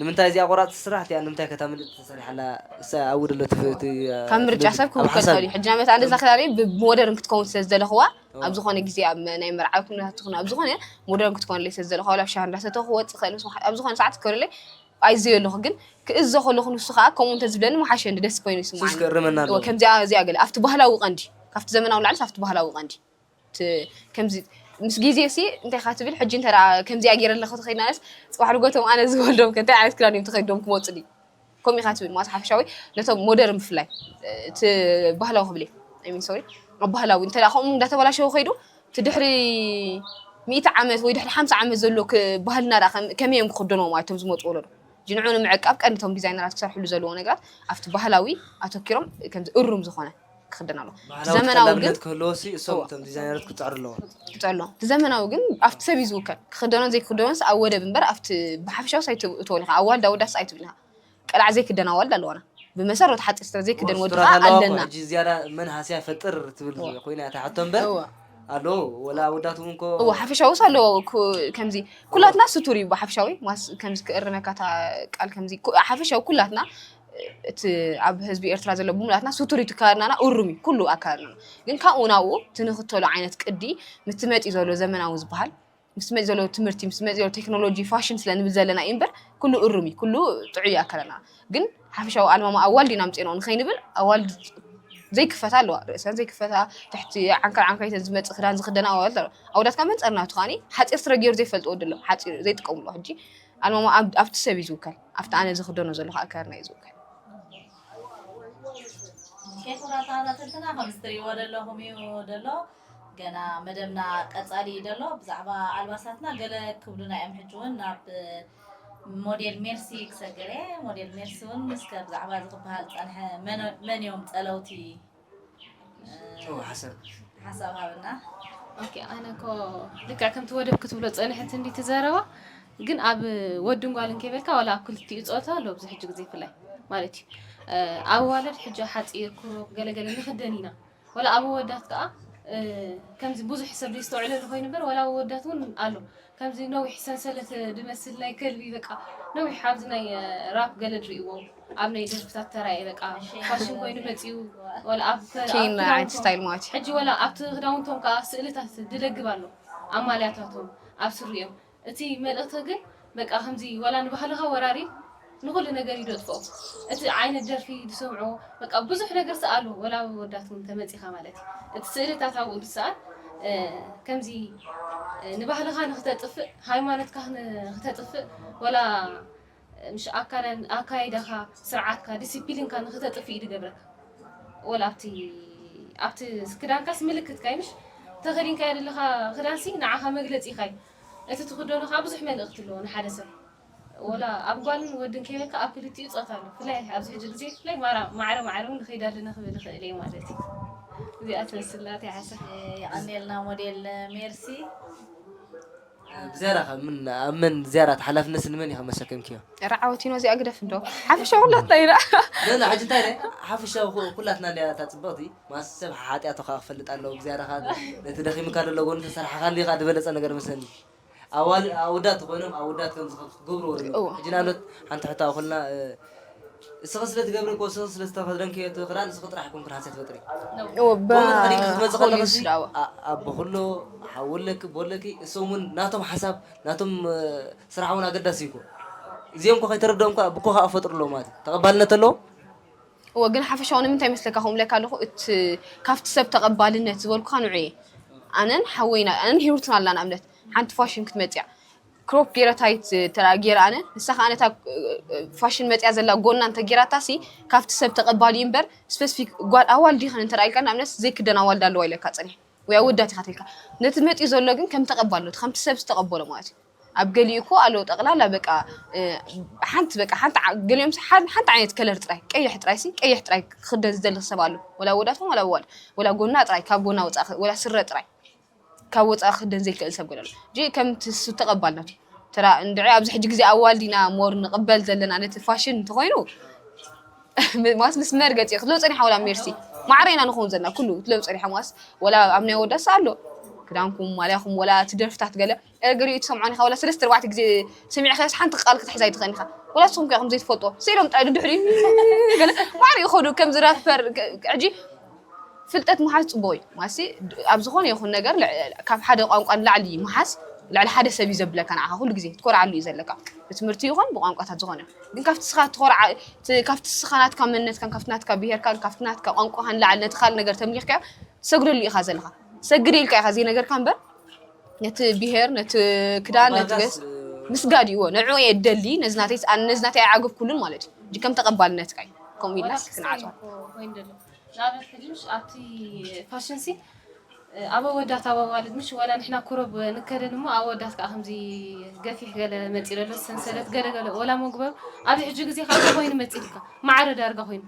ንምንታይ እዚኣ ቆራጽቲ ስራሕ እቲኣ ንምንታይ ከተምልጥ ተሰሪሓ ኣላ እሳ ኣብኡ ደሎ እቲ እቲ ካብ ምርጫ ስለዚ ሰብ ኣብ ክውከል ሓሳብ ይኸእል እዩ እዩ። ሕጂ ናይ መታን እዛ ክዳነይ ብሞደርን ክትከውን ስለ ዝደለኽዋ ኣብ ዝኾነ ግዜ ኣብ መ- ናይ መርዓ ኩነታት ትኹን ኣብ ዝኾነ ሞደርን ክትኮነለይ ስለ ዝደለኽዋ ወላ ኣብ ሻሂ እንዳሰተኹ ክወጽእ ይኸእል ምስ መሓ- ኣብ ዝኾነ ሰዓት ክትኮነለይ ኣይዘዮ ኣለኹ ግን ክእዞ ከለኹ ንሱ ከኣ ከምኡ እንተ ዝብለኒ ምሓሸኒ ደስ ኮይኑ ሱስ ይስምዓኒ ክእርመና እወ ኣለዎ። ከምዚኣ እዚኣ ገለ ኣብቲ ባህላዊ ቀንዲ ካብቲ ዘመናዊ ንላዕሊስ ኣብቲ ባህላዊ ቀንዲ እቲ ከምዚ ምስ ግዜሲ እንታይ ኢኻ ትብል ሕጂ እንተ ከምዚኣ ገይረ ኣለኹ ተኸዲናስ ጽባሕ ንጎቶም ኣነ ዝወልዶም ከ እንታይ ዓይነት ክዳን እዮም ተኸዲኖም ክመጹኒ ከምኡ ኢኻ ትብል ማስ ሓፈሻዊ ነቶም ሞደርን ብፍላይ እቲ ባህላዊ ክብል እየ ኣይ ሚን ሶሪ ኣብ ባህላዊ እንተ ከምኡ እንዳተበላሸወ ከይዱ እቲ ድሕሪ ሚእቲ ዓመት ወይ ድሕሪ ሓምሳ ዓመት ዘሎ ባህልና ደኣ ከመይ እዮም ክኽደንዎ ማለት እቶም ዝመጹ ወለዶ? ሕጂ ንዕኡ ንምዕቃብ ቀንዲ እቶም ዲዛይነራት ክሰርሕሉ ዘለዎ ነገራት ኣብቲ ባህላዊ ኣተኪሮም ከምዚ እሩም ዝኾነ ክኽደን ኣለዎ። እቲ ባህላዊ ዘመናዊ ግን ተቀላብነት ክህልዎሲ እሶም እወ። እቶም ዲዛይነራት ክጸዕሩ ኣለዎም። ክጸዕሩ ኣለዎም። እቲ ዘመናዊ ግን ኣብቲ ሰብ እዩ ዝውከል። ክኽደኖን ዘይክኽደኖንስ ኣብ ወደብ እምበር ኣብቲ ብሓፈሻውስ ኣይትእትዎን ኢኻ። ኣዋልድ ኣወዳትስ ኣይትብልን ኢኻ። ቀላዕ ዘይክደን ኣዋልድ ኣለዋና ብመሰረት ሓፂር ስትራ ዘይክደን ወዲ ስትራት ከዓ ኣለዋ እኮ ኣለና ሕጂ ዝያዳ መን ሃስያ ፈጥር ትብል እወ ኮይና እያ እታ ሕቶ እምበር እወ ኣሎ ወላ ኣወዳት እውን እኮ እወ ሓፈሻዊስ ኣለዎ ኩ- ከምዚ እወ ኩላትና ስቱር እዩ ብሓፈሻዊ ዋስ ከምዚ ክእርመካ እታ ቃል ከምዚ ኩ- ሓፈሻዊ ኩላትና እቲ ኣብ ህዝቢ ኤርትራ ዘሎ ብምሉኣትና ስቱር እዩ ትካልና እሩም እዩ ኩሉ ኣካልና ግን ካብኡ ናብኡ እቲ ንኽተሎ ዓይነት ቅዲ ምትመጢ ዘሎ ዘመናዊ ዝበሃል ምስ መፅእ ዘሎ ትምህርቲ ምስ መፅእ ዘሎ ቴክኖሎጂ ፋሽን ስለ ንብል ዘለና እዩ እምበር ኩሉ እሩም እዩ ኩሉ ጥዑይ እዩ ኣከለና ግን ሓፈሻዊ ኣልማማ ኣዋልድ ኢና ኣምፂእናኦ ንኸይንብል ኣዋልድ ዘይክፈታ ኣለዋ ርእሰን ዘይክፈታ ትሕቲ ዓንከር ዓንከር ኢተን ዝመፅእ ክዳን ዝኽደና ኣዋልድ ኣለዋ ኣወዳት ካብ መንፀር ናቱ ከዓኒ ሓፂር ስረ ገይሩ ዘይፈልጥ ወዲ ኣሎ ሓፂር ዘይጥቀምሉ ሕጂ ኣልማማ ኣብ- ኣብቲ ሰብ እዩ ዝውከል ኣብቲ ኣነ ዝኽደኖ ዘለኹ ኣከዳድና እዩ ዝውከል ኬፍ ራሳራተትና ከም ዝትሪእዎ ዘለኹም እዩ ደሎ ገና መደብና ቀጻሊ እዩ ዘሎ ብዛዕባ ኣልባሳትና ገለ ክብሉና እዮም ሕጂ እውን ናብ ሞዴል ሜርሲ ክሰግር እየ ሞዴል ሜርሲ እውን እስከ ብዛዕባ እዚ ክበሃል ዝጸንሐ መን- መን እዮም ጸለውቲ ጨው ሓሰብ ሓሳብ ሃብና ኦኬ ኣነ እኮ ልክዕ ከምቲ ወደብ ክትብሎ ፀንሕት እንዲ ትዘረባ ግን ኣብ ወድን ጓልን ከይበልካ ዋላ ኣብ ክልቲኡ ፆታ ኣሎ ኣብዚ ሕጂ ግዜ ፍላይ ማለት እዩ እ፣ ኣዋልድ ሕጂ ሓፂር ኩሩብ ገለገለ ንክደን ኢና ወላ ኣብ ኣወዳት ከኣ ከምዚ ብዙሕ ሰብ ዘይስተውዕለሉ ኮይኑ እምበር ወላ ኣብ ኣወዳት እውን ኣሎ ከምዚ ነዊሕ ሰንሰለት ዝመስል ናይ ከልቢ በቃ ነዊሕ ኣብዚ ናይ ራፕ ገለ ትርእይዎ ኣብ ናይ ደርፍታት ተራእየ በቃ ፋሽን ኮይኑ መጺኡ ወላ ኣብ ከ- ኣብ ኬን ክዳውንቶም- ዓይነት ስታይል ማለት እዩ ሕጂ ወላ ኣብቲ ክዳውንቶም ከኣ ስእልታት ዝደግብ ኣሎ ኣብ ማልያታቶም ኣብ ስሪኦም እቲ መልእኽቲ ግን በቃ ከምዚ ዋላ ንባህልኻ ወራሪ ንኹሉ ነገር እዩ ደጥፍኦ እቲ ዓይነት ደርፊ ድሰምዑ በቃ ብዙሕ ነገር ሰኣሉ ወላ ኣብ ኣወዳት ውን ተመጺኻ ማለት እዩ እቲ ስእልታት ኣብኡ ድሰኣል ከምዚ ንባህልኻ ንኽተጥፍእ ሃይማኖትካ ንኽተጥፍእ ወላ ምሽ ኣካዳን ኣካይዳኻ ስርዓትካ ድሲፒሊንካ ንኽተጥፍ እዩ ድገብረካ ወላ ኣብቲ ኣብቲ ክዳንካስ ምልክትካዩ ምሽ ተኸዲንካዮ ደለኻ ክዳንሲ ንዓኻ መግለጺኻዩ እቲ ትኽደኖ ከኣ ብዙሕ መልእኽቲ ኣለዎ ንሓደ ሰብ ወላ ኣብ ጓልን ወድን ከይበልካ ኣብ ክልቲኡ ጾታ ኣሎ ብፍላይ ኣብዚ ሕጂ ግዜ ብፍላይ ማራ ማዕረ ማዕረ ውን ንኸይድ ኣለና ክብል ይኽእል እየ ማለት እዩ እዚኣ ትመስል ናተይ ሓሳብ። የቐኔልና ሞዴል ሜርሲ። ብዝያዳ ከ ኣብ መን ዝያዳ እቲ ሓላፍነትሲ ንመን ኢኺ መሰከምክዮ? ርዓወቲኖ እዚኣ ግደፍ እንዶ ሓፈሻዊ ኩላትና ኢና። ኖኖ ሕጂ እንታይ ኢለ ሓፈሻዊ ኩላትና እንድያ እታ ጽብቕቲ ማስ ሰብ ሓሓጢኣቱ ከኣ ክፈልጥ ኣለዎ ብዝያዳ ከኣ ነቲ ደኺሙካ ዘሎ ጎኑ ተሰራሕካሉ እዩ ከኣ ዝበለጸ ነገር መስለኒ ኣዋል ኣወዳት ኮይኖም ኣወዳት ከምዚ ክትገብርዎ ኣለኩም ሕጂ ንኣብነት ሓንቲ ሕቶ ኣብ ኩልና እስኺ ስለ ትገብሪ እኮ እስኺ ስለ ዝተኸድንክዮ እቲ ክዳን እስኺ ጥራሕ ኮንኪ ርሃጽ ትፈጥሪ ከምኡ ተኸዲንኪ ክትመጺ ከለኽሲ ኣቦ ክሎ ሓዊ ኣለኪ ኣቦ ኣለኪ እሶም እውን ናቶም ሓሳብ ናቶም ስራሕ እውን ኣገዳሲ እዩ እኮ እዚኦም እኮ ከይተረድኦም እኳ ብኮ ከዓ ፈጥሩ ኣለዎ ማለት እዩ ተቐባልነት ኣለዎ እዎ ግን ሓፈሻዊ ንምንታይ መስለካ ከምኡ ብለካ ኣለኹ እቲ ካብቲ ሰብ ተቐባልነት ዝበልኩኻ ንዑ እየ ኣነን ሓወይና ኣነን ሂሩትን ኣላ ንኣብነት ሓንቲ ፋሽን ክትመፅያ ክሮፕ ጌረ ታይት እንተ ጌረ ኣነ ንሳ ከኣ ነታ ፋሽን መጽያ ዘላ ጎና እንተ ጌራታሲ ካብቲ ሰብ ተቐባሊ እዩ እምበር ስፐሲፊክ ጓል ኣዋልድ ይኸን እንተ ኢልካ ንኣብነት ዘይክደን ኣዋልድ ኣለዋ ኢለካ ጸኒሐ ወይ ኣወዳት ኢኻ ተልካ ነቲ መጽዩ ዘሎ ግን ከም ተቐባልነቱ ከምቲ ሰብ ዝተቐበሎ ማለት እዩ ኣብ ገሊኡ እኮ ኣሎ ጠቕላላ በቃ ሓንቲ በቃ ሓንቲ ገሊኦም ሓንቲ ዓይነት ከለር ጥራይ ቀይሕ ጥራይ ሲ ቀይሕ ጥራይ ክኽደን ዝደሊ ሰብ ኣሎ ወላ ወዳት ወላ ወላ ጎና ጥራይ ካብ ጎና ወጻእ ወላ ስረ ጥራይ ካብ ወፃኢ ክክደን ዘይክእል ሰብ ገለ ኣሎ ጂ ከምቲ ሱፍ ተቀባል ናቱ ተራ እንድዒ ኣብዚ ሕጂ ግዜ ኣዋልድ ኢና ሞር ንቅበል ዘለና ነቲ ፋሽን እንተኮይኑ ማስ ምስ መርገፂ ክትለው ፀኒሓ ወላ ሜርሲ ማዕረ ኢና ንኸውን ዘለና ኩሉ ክትለው ፀኒሓ ማስ ወላ ኣብ ናይ ወዳስ ኣሎ ክዳንኩም ማልያኹም ወላ እቲ ደርፍታት ገለ ገሊኡ ትሰምዖን ኢኻ ዋላ ሰለስተ ኣርባዕተ ግዜ ሰሚዕካዮስ ሓንቲ ቃል ክትሕዝ ኣይትኽእልን ኢኻ ዋላ ንስኹም ከ ከምዘይ ትፈልጦ ስኢሎም ጥራይ ንድሕሪት ገለ ማዕረ ይኸዱ ከምዚ ራፐር ሕጂ ፍልጠት ምሓዝ ጽቡቕ እዩ ማለትሲ ኣብ ዝኾነ ይኹን ነገር ካብ ሓደ ቋንቋ ንላዕሊ ምሓዝ ልዕሊ ሓደ ሰብ እዩ ዘብለካ ንዓኻ ኩሉ ግዜ ትኮርዓሉ እዩ ዘለካ ብትምህርቲ ይኹን ብቋንቋታት ዝኾነ ግን ካብቲ ስኻ ትኮርዓ ካብቲ ስኻ ናትካ መንነትካን ካብቲ ናትካ ብሄርካን ካብቲ ናትካ ቋንቋኻን ላዕሊ ነቲ ካልእ ነገር ተምሊኽካዮ ትሰግደሉ ኢኻ ዘለኻ ትሰግድ ኢልካ ኢኻ ዘይነገርካ እምበር ነቲ ብሄር ነቲ ክዳን ነቲ ገስ ምስጋድ እዩዎ ንዑ እየ ደሊ ነዚ ናተይ ነዚ ናተይ ኣይዓገብኩሉን ማለት እዩ እንጂ ከም ተቐባልነትካ እዩ ከምኡ ኢልናስ ክንዓፅዋ ንኣብነት ሕጂሽ ኣብቲ ፋሽን ሲ ኣብ ኣወዳት ኣብ ኣዋልድ ምሽ ዋላ ንሕና ኩረብ ንከደን እሞ ኣወዳት ከዓ ከምዚ ገፊሕ ገለ መፂ ዘሎ ሰንሰለት ገለ ገለ ወላ መጉበር ኣብዚ ሕጂ ግዜ ካብ ኮይኑ መፂልካ ማዕረ ዳርጋ ኮይኑ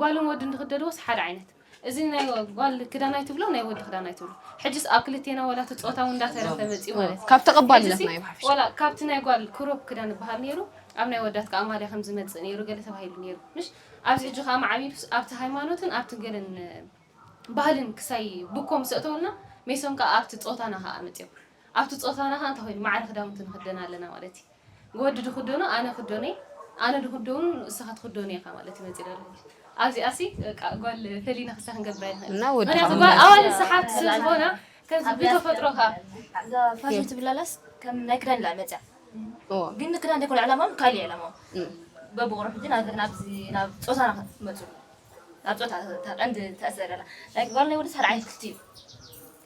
ጓልን ወድን ዝክደድዎስ ሓደ ዓይነት እዚ ናይ ጓል ክዳን ኣይትብሎ ናይ ወዲ ክዳን ኣይትብሎ ሕጅስ ኣብ ክልቴና ወላ እቲ ጾታ እውን እንዳተረፈ መጺኡ ማለት እዩ ካብ ተቐባልነት ናይ ብሓፊሽ ወላ ካብቲ ናይ ጓል ክሮፕ ክዳን ዝበሃል ነይሩ ኣብ ናይ ወዳት ከዓ ማልያ ከም ዝመጽእ ነይሩ ገለ ተባሂሉ ነይሩ ምሽ ኣብዚ ሕጂ ከዓ ማዕቢሉስ ኣብቲ ሃይማኖትን ኣብቲ ገለን ባህልን ክሳይ ብኮም ሰእተውልና ሜሶም ከዓ ኣብቲ ጾታና ከዓ መጽኦም ኣብቲ ጾታና ከዓ እንታይ ኮይኑ ማዕረ ክዳውንቲ ንክደና ኣለና ማለት እዩ ወዲ ድኽደኖ ኣነ ክደኖ እየ ኣነ ድኽደኑ ንስኻ ትኽደኖ ኢኻ ማለት እዩ መጺና ኣለኪ ኣብዚኣሲ በቃ ጓል ፈሊና ክሳ ክንገብራ ይኽእል እና ወዲ ምክንያቱ ጓል ኣዋልድ ሰሓብቲ ስለ ዝኾና ከምዚ ብተፈጥሮ ከ እዛ ፋሽን ትብላላስ ከም ናይ ክዳን ኢላ መፅያ እዎ ግን ንክዳን ዘይኮነ ዕላማኦም ካልእ ዕላማኦም እም። በብቑርሑ ግን ናብ- ናብዚ ናብ ፆታና ክትመፁ ናብ ፆታ እታ ቀንዲ ተእሰር ኣላ ናይ ጓል ናይ ወዲ ሓደ ዓይነት ክፍቲ እዩ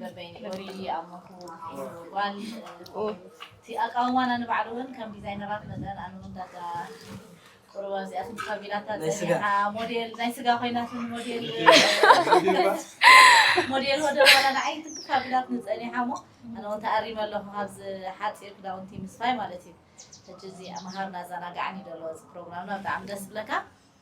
በበይኑ ወሪዱ ይኣምኩ ጓል እቲ ኣቃውማና ንባዕሉ እውን ከም ዲዛይነራት መጠን ኣነ እውን ዳርጋ ቁሩብ ኣብዚኣቶም ካቢናታት በዚሓ ሞዴል ናይ ስጋ ኮይናት ሞዴል ሞዴል ወደ በኋላ ንዓይ ትክ ካቢናት ንፀኒሓ እሞ ኣነ እውን ተኣሪመ ኣለኹ ካብዚ ሓፂር ክዳውንቲ ምስፋይ ማለት እዩ ሕጂ እዚ መሃርና ኣዘናጋዕን እዩ ዘሎ እዚ ፕሮግራምና ብጣዕሚ ደስ ዝብለካ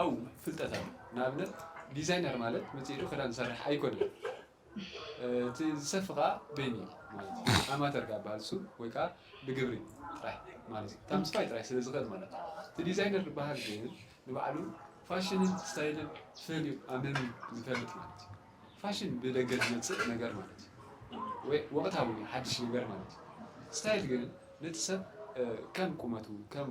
ኣው ፍልጠት ኣሎ ንኣብነት ዲዛይነር ማለት መፅኡ ኢሉ ክዳን ዝሰርሕ ኣይኮነን እቲ ዝሰፊ ከዓ በይኑ እዩ ማለት እዩ ኣማተር ካብ በሃል እሱ ወይ ከዓ ብግብሪ ጥራሕ ማለት እዩ ካብ ምስፋይ ጥራሕ ስለ ዝኽእል ማለት እዩ እቲ ዲዛይነር ዝበሃል ግን ንባዕሉ ፋሽንን ስታይልን ፈልዩ ኣመም ዝፈልጥ ማለት እዩ ፋሽን ብደገ ዝመፅእ ነገር ማለት እዩ ወይ ወቕታዊ ሓድሽ ነገር ማለት እዩ ስታይል ግን ነቲ ሰብ ከም ቁመቱ ከም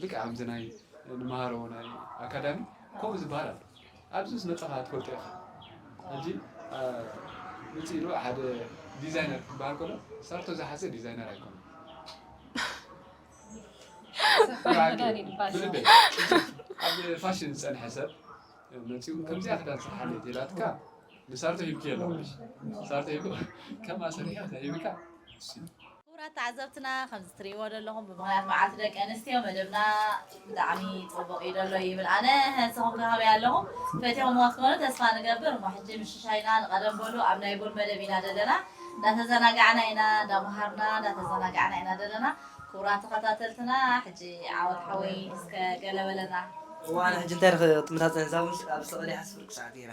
ልክዕ ከምዚ ናይ ንመሃሮ ናይ ኣካዳሚ ከምኡ ዝበሃል ኣሎ ኣብዚ ምስ መጻኻ ትፈልጦ ኢኻ ሕጂ ምጽእ ኢሉ ሓደ ዲዛይነር ክበሃል ከሎ ሳርቶ ዝሓዘ ዲዛይነር ኣይኮነን ብልበይ ኣብ ፋሽን ዝጸንሐ ሰብ መጺኡ ከምዚኣ ክዳን ስርሓለይ ተላትካ ንሳርቶ ሂብክዮ ኣለኹ ሳርቶ ሂቡ ከም ኣሰርሕዮ ተሂብካ ክቡራት ተዓዘብትና ከምዚ ትሪእዎ ደለኹም ብምኽንያት መዓልቲ ደቂ ኣንስትዮ መደብና ብጣዕሚ ጽቡቕ እዩ ደሎ ይብል ኣነ ንስኹም ከ ከመይ ኣለኹም ፈቲኹምዎ ክትኮኑ ተስፋ ንገብር እሞ ሕጂ ምሽሻይና ንቐደም በሉ ኣብ ናይ ቡን መደብ ኢና ደለና እንዳተዘናጋዕና ኢና እንዳመሃርና እንዳተዘናጋዕና ኢና ደለና ክቡራት ተኸታተልትና ሕጂ ዓወት ሓወይ እስከ ገለ በለና እዋእ ኣነ ሕጂ እንታይ ክትምታተኒ እዛ ቡን ኣብ ዝተቐድሐት ፍርቂ ሰዓት ጌራ።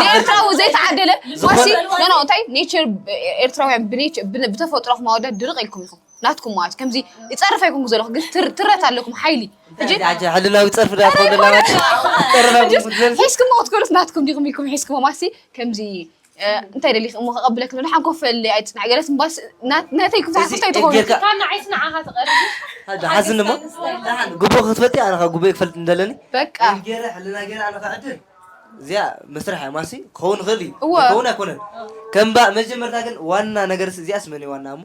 ንኤርትራዊ ዘይተዓደለ ዋሲ እንታይ ኔቸር ኤርትራውያን ብተፈጥሮ ክማወዳት ድርቕ ኢልኩም ኢኹም ናትኩም ማለት ከምዚ ይፀርፍ ኣይኮንኩ ዘለኹ ግን ትረት ኣለኩም ሓይሊ ሕልናዊ ፀርፊ ሒዝክሞ ክትኮኑስ ናትኩም ዲኹም ኢልኩም ሒዝክሞ ማሲ ከምዚ እንታይ ደሊኺ እሞ ከቐብለኪ ንብል ሓንኮፈለይ ኣይትፅናዕ ገለ ስምባስ ነተይ ክብዛሓፍቶ ኣይትኾኑ ካብ ንዓይ ፅናዓኻ ትቐርብ ሓዝኒ እሞ ጉቦ ክትፈልጢ ኣነ ካብ ጉቦ ክፈልጥ እንደለኒ በቃ ገረ ሕልና ገረ ኣነ ክዕድል እዚኣ መስርሕ እያ ማሲ ክኸውን ይኽእል እዩ ክኸውን ኣይኮነን ከምባ መጀመርታ ግን ዋና ነገር እዚኣስ መን ዋና እሞ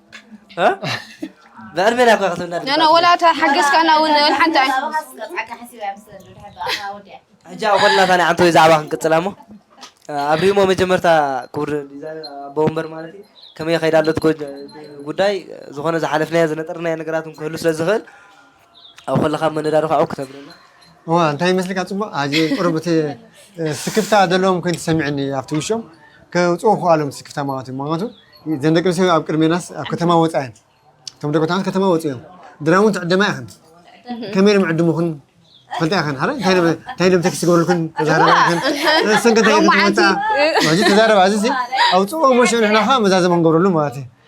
ብዕር ቤላ እኳ ክትብላ ነና ወላ እታ ሓገዝካና እውን ሓንቲ ኣይ ሕጂ ኣብ ኮልና ታኒ ዓንተ ወይ ዛዕባ ክንቅፅላ እሞ ኣብ ሪሞ መጀመርታ ክቡር ዲዛይነር ኣቦ ወንበር ማለት እዩ ከመይ ከይዳ ኣሎ እቲ ጎ- ጉዳይ ዝኾነ ዝሓለፍናዮ ዝነጠርናዮ ነገራት እውን ክህሉ ስለ ዝኽእል ኣብ ከለካ መነዳሪ ካኣ ክተብረልና። እዋ እንታይ ይመስልካ ጽቡቅ ኣዚ ቁሩብ እቲ ስክፍታ ዘለዎም ኮይኑ ተሰሚዕኒ ኣብቲ ውሽኦም ከውጽኡ ክኣሎም ስክፍታ ማለት እዩ ምክንያቱ ዘን ደቂ ኣንስትዮ ኣብ ቅድሜናስ ኣብ ከተማ ወጻ እየን እቶም ደቂ ተባዕትዮ ከተማ ወጹ እዮም ድራር እውን ትዕደማ ኢኽን ከመይ ኢሎም ዕድሙኽን ትፈልጣ ኢኽን ሓደ እንታይ ኢሎም እንታይ ኢሎም ተክሲ ክገብሩልክን ተዛረባ ኢኽን ንሰን ከ እንታይ ኢኽን ትመጻ ሕጂ ተዛረባ እዚ ኣውጽኦ ሞሽ ንሕና ከ መዛዘም ክንገብረሉ ማለት እዩ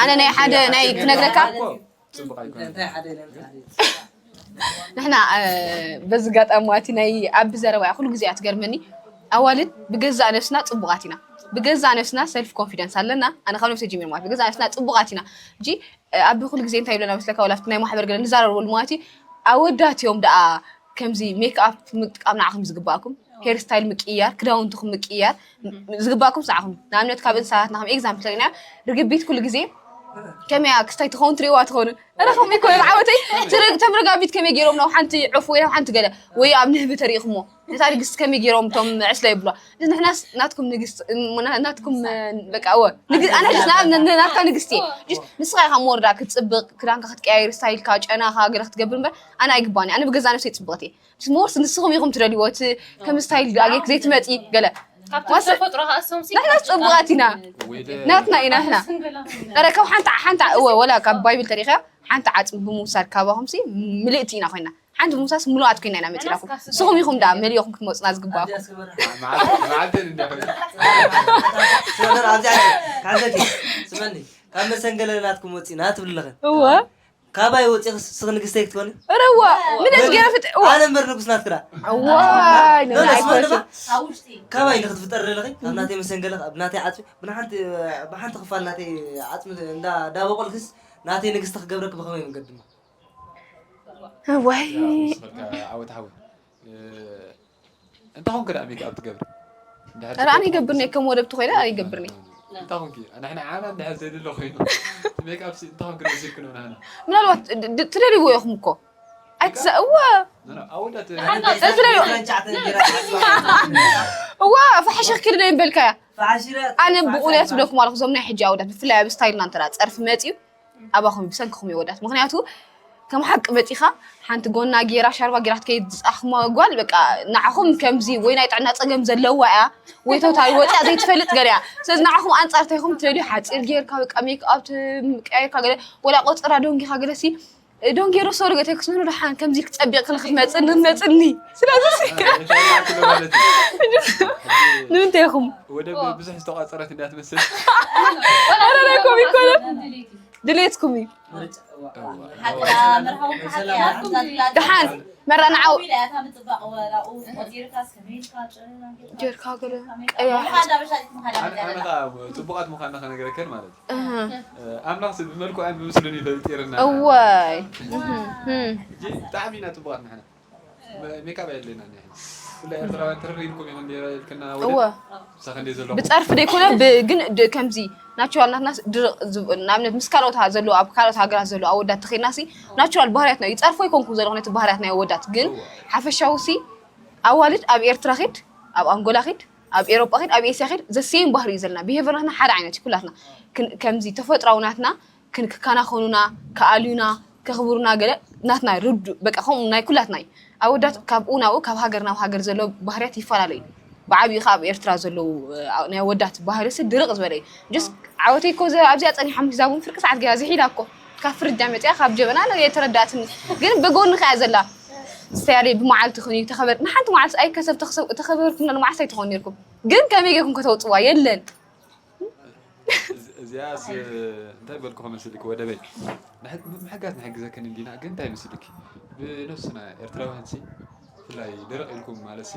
ኣነ ናይ ሓደ ናይ ክነግረካ ንሕና በዚ ጋጣሚ ዋቲ ናይ ኣቢ ዘረባ ኩሉ ግዜ እያ ትገርመኒ ኣዋልድ ብገዛእ ነብስና ፅቡቃት ኢና ብገዛእ ነብስና ሰልፍ ኮንፊደንስ ኣለና ኣነ ካብ ነብሰ ጀሚር ማለት ብገዛእ ነብስና ፅቡቃት ኢና እጂ ኣቢ ኩሉ ግዜ እንታይ ይብለና መስለካ ወላፍቲ ናይ ማሕበር ገለ ንዛረበሉ ማለት እዩ ኣወዳት እዮም ደኣ ከምዚ ሜክኣፕ ምጥቃም ንዓኹም ዝግባኣኩም ሄር ስታይል ምቅያር ክዳውንትኹም ምቅያር ዝግባእኩም ሰዓኹም ንኣብነት ካብ እንስሳታት ንከም ኤግዛምፕል ተሪና ርግቢት ኩሉ ግዜ ከመይ እያ ክስታይ ትኸውን ትሪእዋ ትኾኑ እረ ከምኡ ይኮነ ዓወተይ ተም ረጋቢት ከመይ ገይሮም ናብ ሓንቲ ዑፍ ወይ ናብ ሓንቲ ገለ ወይ ኣብ ንህቢ ተሪእኹሞ ነታ ንግስቲ ከመይ ገይሮም እቶም ዕስለ ይብሏ ንሕናስ ናትኩም ንግስቲ ናትኩም በቃ ወ ኣነ ናትካ ንግስቲ እየ ንስኻ ኢኻ መወርዳ ክትፅብቕ ክዳንካ ክትቀያየር ስታይልካ ጨናኻ ገለ ክትገብር እምበር ኣነ ኣይግባኒ ኣነ ብገዛ ነብሰይ ፅብቕቲ እየ ሞርስ ንስኹም ኢኹም ትደልይዎ እቲ ከም ስታይል ዳጌክ ዘይትመፂ ገለ ንሕና ፅቡቃት ኢና ናትና ኢና ሕና ረ ካብ ሓንቲ ሓንቲ እወ ወላ ካብ ባይብል ተሪኸያ ሓንቲ ዓፅሚ ብምውሳድ ካባኹምሲ ምልእቲ ኢና ኮይና ሓንቲ ምውሳስ ምሉኣት ኮይና ኢና መፂናኹም ንስኹም ኢኹም ዳ መሊኦኹም ክትመፁና ዝግባእኩም ስመኒ ካብ መሰንገለ ናትኩም ወፂና ትብልለኽን እወ ካባይ ወፂኺ ስኽ ንግስተይ ክትኮኒ እረዋ ምነት ገይረ ፍጥ ኣነ እምበር ንጉስ ናትክዳ ዋይ ካባይ ኢለ ክትፍጠር ዘለኺ ኣብ ናተይ መሰንገለ ኣብ ናተይ ዓፅሚ ብሓንቲ ብሓንቲ ክፋል ናተይ ዓፅሚ እንዳ ዳበቆልክስ ናተይ ንግስቲ ክገብረኪ ብኸመይ መንገዲ እሞ ዋይ ዓወት ዓወት እንታ ኮንክ ደኣ ሜክ ኣፕ ትገብሪ ኧረ ኣነ ይገብር ነይ ከም ወለብቲ ኮይነ ኣነ ይገብር ነይ እንታ ኮንኪ ንሕና ዓና እንድሕር ዘይድሎ ኮይኑ ሜክ ኣፕ እንታ ኮንክ ንወሲድኩ ንብላ ንሕና ምናልባት ትደልይዎ ኢኹም እኮ ኣይትዛ እወ ኣወዳት እወ ፋሕሽ ክክድ ዶ ይበልካያ ኣነ ብቑንያ ትብለኩም ኣለኹ እዞም ናይ ሕጂ ኣወዳት ብፍላይ ኣብ ስታይልና እንተ ፀርፊ መፅዩ ኣባኹም እዩ ብሰንክኹም እዩ ወዳት ምክንያቱ ከም ሓቂ መፂኻ ሓንቲ ጎና ጌራ ሻርባ ጌራ ትከይድ ዝፃኽማ ጓል በቃ ንዓኹም ከምዚ ወይ ናይ ጥዕና ፀገም ዘለዋ እያ ወይ ተውታይ ወፂኣ ዘይትፈልጥ ገለ እያ ስለዚ ንዓኹም ኣንፃር እንታይ ኢኹም ትደልዩ ሓፂር ጌርካ በቃ ሜክኣፕ ቀያይርካ ገለ ወላ ቆፅራ ደንጊኻ ገለሲ ዶን ጌሮ ሶሪ ገ ተክስኑ ደሓን ከምዚ ክጸቢቕ ክል ክትመጽእ ንመጽኒ ስለዚ ንምንታይ ኢኹም ወደ ብዙሕ ዝተቋጸረት እያ ትመስል ኮም ይኮነ ድሌትኩም እዩ ደሓን መራንዓው ጌርካ ገለ ቀያሕ ጽቡቃት ምዃንና ከነገረከን ማለት ኣምላኽ ስብ ብመልክዑን ብምስሉን እዩ ፈጢርና። እዋይ ሕጂ ብጣዕሚ ኢና ጽቡቓት ንሕና ሜካብ ኣየድልየናን እዩ ሕጂ ኩላ ኤርትራውያን ትርር ኢልኩም ኢኹም ኔረ ኢልክና ወደ እወ ምሳ ክንደይ ዘለኹም ብጸርፊ ዘይኮነ ብ- ግን ድ- ከምዚ ናቹራል ናትናስ ድርቕ ዝብ- ንኣብነት ምስ ካልኦት ሃ- ዘለዉ ኣብ ካልኦት ሃገራት ዘለዉ ኣወዳት ተኸድናሲ ናቹራል ባህርያትና እዩ ይጸርፎ ኣይኮንኩን ዘለኹ ነቲ ባህርያት ናይ ኣወዳት ግን ሓፈሻዊ ሲ ኣዋልድ ኣብ ኤርትራ ኺድ ኣብ ኣንጎላ ኺድ ኣብ ኤሮጳ ኺድ ኣብ ኤስያ ኺድ ዘሴም ባህሪ እዩ ዘለና ብሄቨርናትና ሓደ ዓይነት እዩ ኩላትና ከምዚ ተፈጥራዊ ናትና ክንክካናኸኑና ክኣልዩና ከኽብሩና ገለ ናትና ርዱ በቃ ከምኡ ናይ ኩላትና እዩ ኣወዳት ካብኡ ናብኡ ካብ ሃገር ናብ ሃገር ዘሎ ባህርያት ይፈላለዩ ብዓብኡ ከ ኣብ ኤርትራ ዘለዉ ናይ ኣወዳት ባህሪሲ ድርቕ ዝበለ እዩ ጀስ ዓወተይ ኮ ኣብዚኣ ጸኒሖም ሂዛቡን ፍርቂ ሰዓት ገያ ዝሒላ እኮ ካብ ፍርጃ መጺኣ ካብ ጀበና ነው የተረዳትኒ ግን ብጎንኺ እያ ዘላ ሰያሪ ብመዓልቲ ክን ተኸበር ንሓንቲ መዓልቲ ኣይ ከሰብ ተኸሰብ ተኸበርኩም ለ መዓልቲ ኣይትኾን ነርኩም ግን ከመይ ጌርኩም ከተውጽዋ የለን እዚኣስ እንታይ በልኩ ከመስልኪ ወደበይ ምሕጋዝ ንሕግዘክን እንዲና ግን እንታይ መስልኪ ብነብስና ኤርትራውያን ሲ ብፍላይ ደረቕ ኢልኩም ማለት ሲ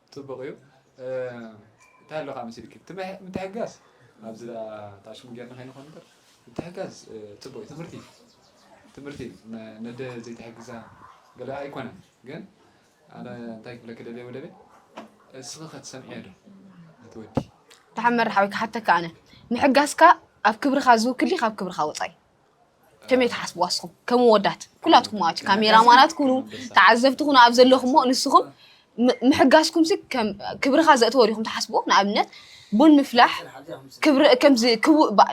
ጽቡቅ እዩ እንታይ ኣሎ ከኣ መሲልኪ እቲ ምትሕግጋዝ ኣብዚ ደኣ ተኣሽሙ ጌርና ከይንኮን እምበር ምትሕግጋዝ ጽቡቅ እዩ ትምህርቲ እዩ ትምህርቲ እዩ ነደ ዘይትሕግዛ ገለ ኣይኮነን ግን ኣነ እንታይ ክብለኪ ደልየ ወደበይ እስኺ ከትሰምዕዮ ዶ ነቲ ወዲ ደሓን መርሓዊ ክሓተካ ኣነ ምሕጋዝካ ኣብ ክብርኻ ዝውክል ድዩ ካብ ክብርኻ ወጻኢ ከመይ ትሓስብዋ ንስኹም ከም ወዳት ኩላትኩም ማለት እዩ ካሜራማናት ኩኑ ተዓዘብቲ ኩኑ ኣብ ዘለኹሞ ንስኹም ም- ምሕጋዝኩም ሲ ከም ክብርኻ ዘእተወ ዲኹም ትሓስብዎ ንኣብነት ቡን ምፍላሕ ክብሪ ከምዚ ክቡ- ባ-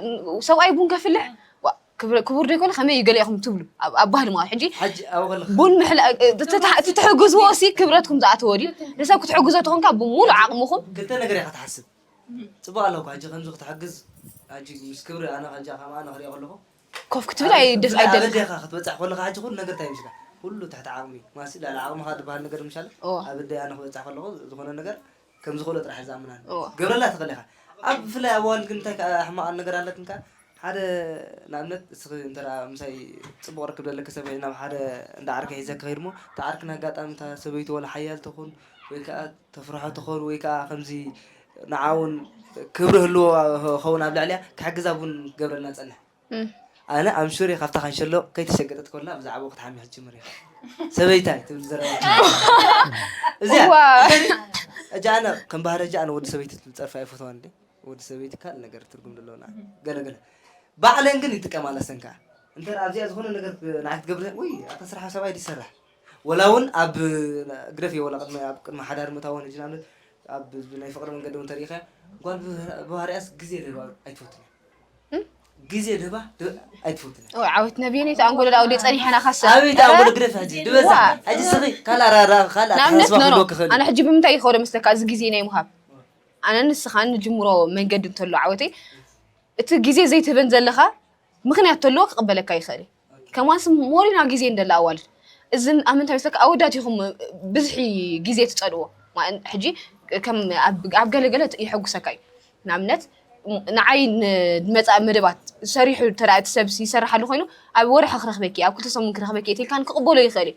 ሰብኣይ ቡን ከፍልሕ ዋ፣ ክብሪ- ክቡር ዶ ይኮነ ከመይ እዩ ገለ ኢኹም ትብሉ ኣብ ኣብ ባህሊ ማለት ሕጂ ሕጂ ኣብኡ ከለካ ቡን ምሕላ ትትሕ- ትትሕግዝዎ ሲ ክብረትኩም ዝኣተወ ድዩ ንሰብ ክትሕግዞ ተኾንካ ብምሉእ ዓቕምኹም ክልተ ነገር ኢኻ ትሓስብ ጽቡቅ ኣሎ እኮ ሕጂ ከምዚ ክትሕግዝ ሕጂ ምስ ክብሪ ኣነ ሕጂ ከምኣ ንክሪኦ ከለኹ ኮፍ ክትብል ኣይ ደስ ኣይ ደልካ ኣበዴኻ ክትበጽሕ ከለኻ ሕጂ ኩሉ ነገር እንታይ ይምስካ ኩሉ ትሕቲ ዓቕሚ ማሲ ልዕሊ ዓቕምኻ ዝበሃል ነገር ምሻለ ኣበዴ ኣነ ክበጽሕ ከለኹ ዝኾነ ነገር ከም ዝኽእሎ ጥራሕ ዝኣምናን ገብረላ ትኽእል ኢኻ ኣብ ብፍላይ ኣብ ኣዋልድ ግን እንታይ ሕማቕ ነገር ኣለትንካ ሓደ ንኣብነት እስኺ እንተ ምሳይ ጽቡቕ ርክብ ደለኪ ሰብ ኮይነ ናብ ሓደ እንዳ ዓርከይ ሒዘኪ ከይድ እሞ እታ ዓርኪ ን ኣጋጣሚ እታ ሰበይቱ ዋላ ሓያል ትኹን ወይ ከኣ ተፍርሖ ትኹን ወይ ከኣ ከምዚ ንዓ ውን ክብሪ ህልዎ ኸውን ኣብ ልዕሊኣ ክሕግዛ ውን ክገብረልና ዝጸንሕ ኣነ ኣም ሹር እየ ካብታ ካንሸሎ ከይተሸገጠት ኮላ ብዛዕባኡ ክትሓሚ ክትጅምር እያ ሰበይታይ ትብል ዘረባ እዚኣ እጃ ኣነ ከም ባህሪ እጃ ኣነ ወዲ ሰበይቲ ዝጸርፋ ኣይፈትዋን ወዲ ሰበይቲ ካልእ ነገር ትርጉም ደለወና ገለ ገለ ባዕለን ግን ይጥቀማላ ሰን ከዓ እንተ ኣብዚኣ ዝኾነ ነገር ንዓይ ክትገብር ወይ ኣታ ስራሕ ሰብኣይ ድዩ ዝሰርሕ ወላ እውን ኣብ ግደፍ እየ ወላ ቅድሚ ኣብ ቅድሚ ሓዳር ምእታወን ሕጂ ንኣብነት ኣብ ናይ ፍቅሪ መንገዲ እውን ተሪእኻ ጓል ብባህሪያስ ግዜ ልህባ ኣይትፈትን እያ ግዜ ልህባ ድ- ኣይትፈትን እያ ዓወት ነብየን እቲ ኣንጎሎ ዳውዲ ጸኒሐና ካሰ ኣቤት ኣንጎሎ ግደፍ ሕጂ ድበዛ ሕጂ ስኺ ካልእ ኣራራ ካልእ ንኣብነት ኣተሓሳስባ ኖኖ ክህልወኪ ይኽእል እዩ ኣነ ሕጂ ብምንታይ ይኸዶ መስለካ እዚ ግዜ ናይ ምሃብ ኣነ ንስኻ ንጅምሮ መንገዲ እንተሎ ዓወተይ እቲ ግዜ ዘይትህበን ዘለኻ ምክንያት ተለዎ ክቕበለካ ይኽእል እዩ ከማስ ሞሪና ግዜ እንደላ ኣዋልድ እዚ ኣብ ምንታይ መስለካ ኣወዳት ኢኹም ብዝሒ ግዜ ትፀልዎ ሕጂ ከም ኣብ ገለገለ የሐጉሰካ እዩ ንኣብነት ንዓይ ንመፃኢ መደባት ሰሪሑ ተዳ እቲ ሰብ ይሰርሓሉ ኮይኑ ኣብ ወርሒ ክረኽበኪ ኣብ ክልተ ሰሙን ክረኽበኪ እትልካን ክቕበሎ ይኽእል እዩ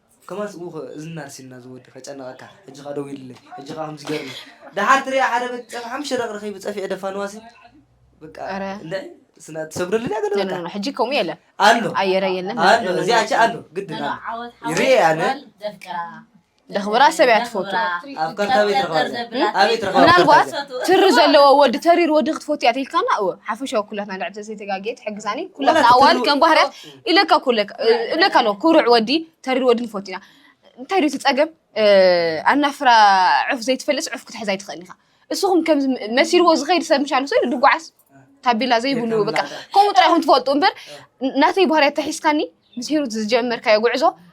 ከማን ስብኡ ከ እዝንና ኣርሲንና ዝወዲ ከጨንቀካ ሕጂ ከኣ ደዊልለይ ሕጂ ከኣ ከምዚ ገርኒ ደሓር ትሪኣ ሓደ በቲ ጸብሒ ሓሙሽተ ደቂ ረኺቢ ጸፊዑ ደፋንዋሲ በቃ ኣረ። እንዳ ስና ትሰግደሉ ድያ ገለ በቃ ሕጂ ከምኡ የለን ኣሎ ኣየረ የለን ኣሎ እዚኣ ቸ ኣሎ ግድን ኣሎ ዓወት ይርኤ ኣነ ዓወት ዘፍቅራ ደኽብራ ሰብ እያ ትፈቱ ኣብ ካርታ ቤት ረኸባ እዚኣ ኣቤት ረኸባ ምናልባት ትሪ ዘለዎ ወዲ ተሪር ወዲ ክትፈቱ እያ ተልካና እወ ሓፈሻዊ ኩላትና ልዕል ተዘይተጋጌት ሕግዛኒ ኩላትና ኣዋል ከም ባህርያት ኢለካ እኮ እለካ እብለካ ኣለኹ ኩሩዕ ወዲ ተሪር ወዲ ንፈቱ ኢና እንታይ ድዩ እቲ ፀገም እ፣ ኣናፍራ ዑፍ ዘይትፈልጥስ ዑፍ ክትሕዝ ኣይትኽእልን ኢኻ እስኹም ከምዚ መሲልዎ ዝኸይድ ሰብ ምሻል ሰ ድጓዓስ ታቤላ ዘይብሉ በቃ ከምኡ ጥራይ ኢኹም ትፈልጡ እምበር ናተይ ባህርያት ተሒዝካኒ ምስ ሂሩት ዝጀመርካዮ ጉዕዞ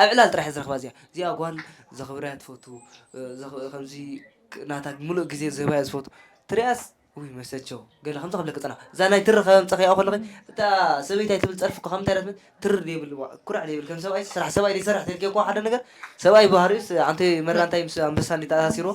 ኣብ ዕላል ጥራሕ እየ ዝረኽባ እዚኣ እዚኣ ጓል ዘኽብራ እያ ትፈቱ ከምዚ ናታ ሙሉእ ግዜ ዝህባ እያ ዝፈቱ ትሪኣስ ውይ መሰቸው ገለ ከምዚ ክብለኪ ፀናሕ እዛ ናይ ትሪ ከም ፀኺኣ ከለኺ እታ ሰበይቲ ኣይትብል ፀርፊ እኮ ካብ ምንታይ እያ ትብል ትሪ ዘይብልዋ ኩራዕ ዘይብል ከም ሰብኣይ ስራሕ ሰብኣይ ዘይሰርሕ ተልኪ እኮ ሓደ ነገር ሰብኣይ ባህሪኡስ ኣንተ መራ እንታይ ምስ ኣንበሳ እንዲ ተኣሳሲርዎ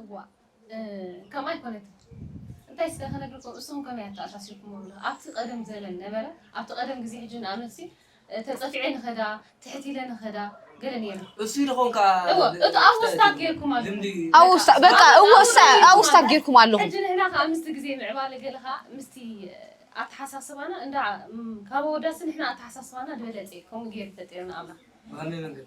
እዋእ ከምኣ ኣይኮነትን እንታይ ስከ ከነግርኩም እሱም ከመይ ኣተኣሳሲርኩሞ ኣብቲ ቀደም ዘለን ነበረ ኣብቲ ቀደም ግዜ ሕጂ ንኣመትሲ ተጸፊዐ ንከዳ ትሕት ኢለ ንከዳ ገለ ነይሩ እሱይ ደኾን ከኣ እወ እቲ ኣብ ውስታት ገርኩም ኣሎ ልምዲ ኣብ ውስታ በቃ እዎ እሳ ኣብ ውስታ ጌርኩም ኣለኹም ሕጂ ንሕና ከኣ ምስቲ ግዜ ምዕባለ ገለ ከኣ ምስቲ ኣተሓሳስባና እንዳ ም፣ ካብ ኣወዳሲ ንሕና ኣተሓሳስባና ድበለጸ ከምኡ ገይሩ ፈጢርና ኣምላኽ ብኸመይ መንገዲ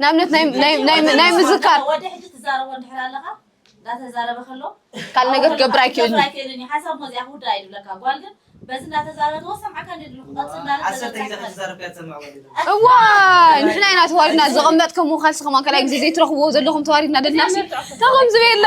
ንኣብነት ናይ ምዝካር ካል ነገር ክገብር ኣይክእልን እዋ ንሕና ኢና ተዋሪድና ዘቐመጥ ከምኡ ካልሲ ከማ ካልይ ግዜ ዘይትረኽብዎ ዘለኹም ተዋሪድና ደልና ሲ ተኸም ዝበየላ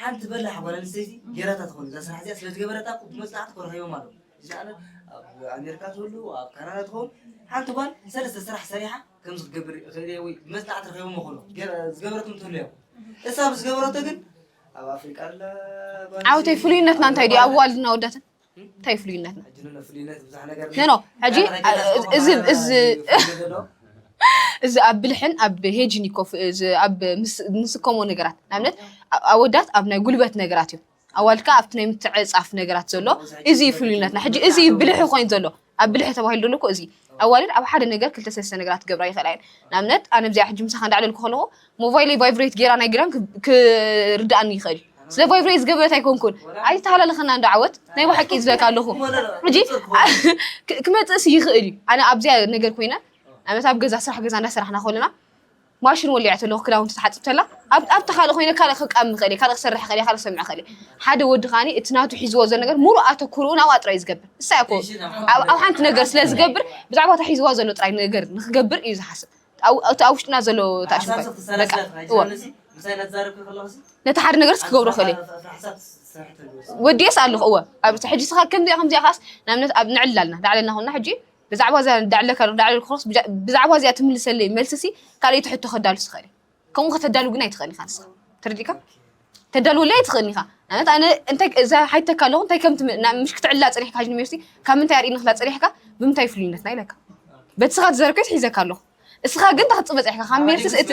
ሓንቲ በላሕ ጓል ኣንስተይቲ ጌራታ ትኾን እዛ ስራሕ እዚኣ ስለዝገበረታ እኮ ብመጽናዕቲ እኮ ረኺቦም ኣለዉ ዝለዓለ ኣብ ኣሜሪካ ትህሉ ኣብ ካናዳ ትኸውን ሓንቲ ጓል ሰለስተ ስራሕ ሰሪሓ ከምዚ ክገብር እኽእል እየ ወይ ብመጽናዕቲ ረኺቦም ይኾኑ ገ- ዝገበረቱ እንትህሉ እዮም እሳ ብዝገበረቶ ግን ኣብ ኣፍሪቃ ኣላ ጓል ዓውተይ ኣንስተይቲ፣ ፍሉይነትና እንታይ ድዩ ኣብ ኣዋልድና ወዳትን እንታይ ፍሉይነት ነው? ኖ ሕጂ እዚ ኣብ ብልሕን ኣብ ሄጅን ይኮፍ ኣብ ንስከሞ ነገራት ንኣብነት ኣወዳት ኣብ ናይ ጉልበት ነገራት እዩ ኣዋልካ ኣብቲ ናይ ምትዕፃፍ ነገራት ዘሎ እዚ እዩ ፍሉይነትና ሕጂ እዚ እዩ ብልሒ ኮይኑ ዘሎ ኣብ ብልሒ ተባሂሉ ዘሎ እኮ እዚ ኣዋልድ ኣብ ሓደ ነገር ክልተ ሰለስተ ነገራት ክገብራ ይኽእላ እየን ንኣብነት ኣነ ብዚኣ ሕጂ ምሳኻ እንዳዕለልኩ ከለኹ ሞባይለይ ቫይብሬት ጌራ ናይ ግዳም ክርድኣኒ ይኽእል ስለ ቫይብሬት ዝገበረት ኣይኮንኩን ኣይተሃላለኸና እንዶ ዓወት ናይ ብሓቂ እዩ ዝብለካ ኣለኹ ሕጂ ክመጽእስ ይኽእል እዩ ኣነ ኣብዚኣ ነገር ኮይነ ንኣብነት ኣብ ገዛ ስራሕ ገዛ እንዳሰራሕና ከለና ማሽን ወሊዓ ተለኩ ክዳውንቲ ትሓጽብ ተላ ኣብ ኣብታ ካልእ ኮይነ ካልእ ክቃም ይኽእል ካልእ ክሰርሕ ይኽእል ካልእ ክሰምዕ ይኽእል ሓደ ወዲ ከዓኒ እቲ ናቱ ሒዝዎ ዘሎ ነገር ሙሉእ ኣተኩርኡ ናብኣ ጥራይ ዝገብር ንሳ እኮ ኣብ ኣብ ሓንቲ ነገር ስለ ዝገብር ብዛዕባ እታ ሒዝዋ ዘሎ ጥራይ ነገር ንክገብር እዩ ዝሓስብ እቲ ኣብ ውሽጥና ዘሎ ተኣሽምኳ በቃ እወ ነቲ ሓደ ነገርስ ክገብሮ ክእል ወዲኤስ ኣለኹ እወ ኣብ ሕጂ ስኻ ከምዚኣ ከምዚኣ ኻስ ንኣብነት ኣብ ንዕላልና ላዕለና ኮንና ሕጂ ብዛዕባ እዛ ዳዕለካ ዳዕለ ክሮስ ብዛዕባ እዚኣ ትምልሰለይ መልስሲ ካልኣይቲ ሕቶ ከዳሉስ ይኽእል እየ ከምኡ ከተዳሉ ግን ኣይትኽእልን ኢኻ ንስኻ ተረዲእካ ተዳልወለይ ኣይትኽእልን ኢኻ ንኣብነት ኣነ እንታይ እዛ ሓይተካ ኣለኹ እንታይ ከም ምሽ ክትዕላ ፀኒሕካ ጅንሜርሲ ካብ ምንታይ ኣርእኒ ክላ ፀኒሕካ ብምንታይ ፍሉይነትና ኢለካ በቲ ስኻ ትዘረብከይስ ሒዘካ ኣለኹ እስኻ ግን እንታይ ክትፅበ ፅሒኻ ካብ ሜልስስ እቲ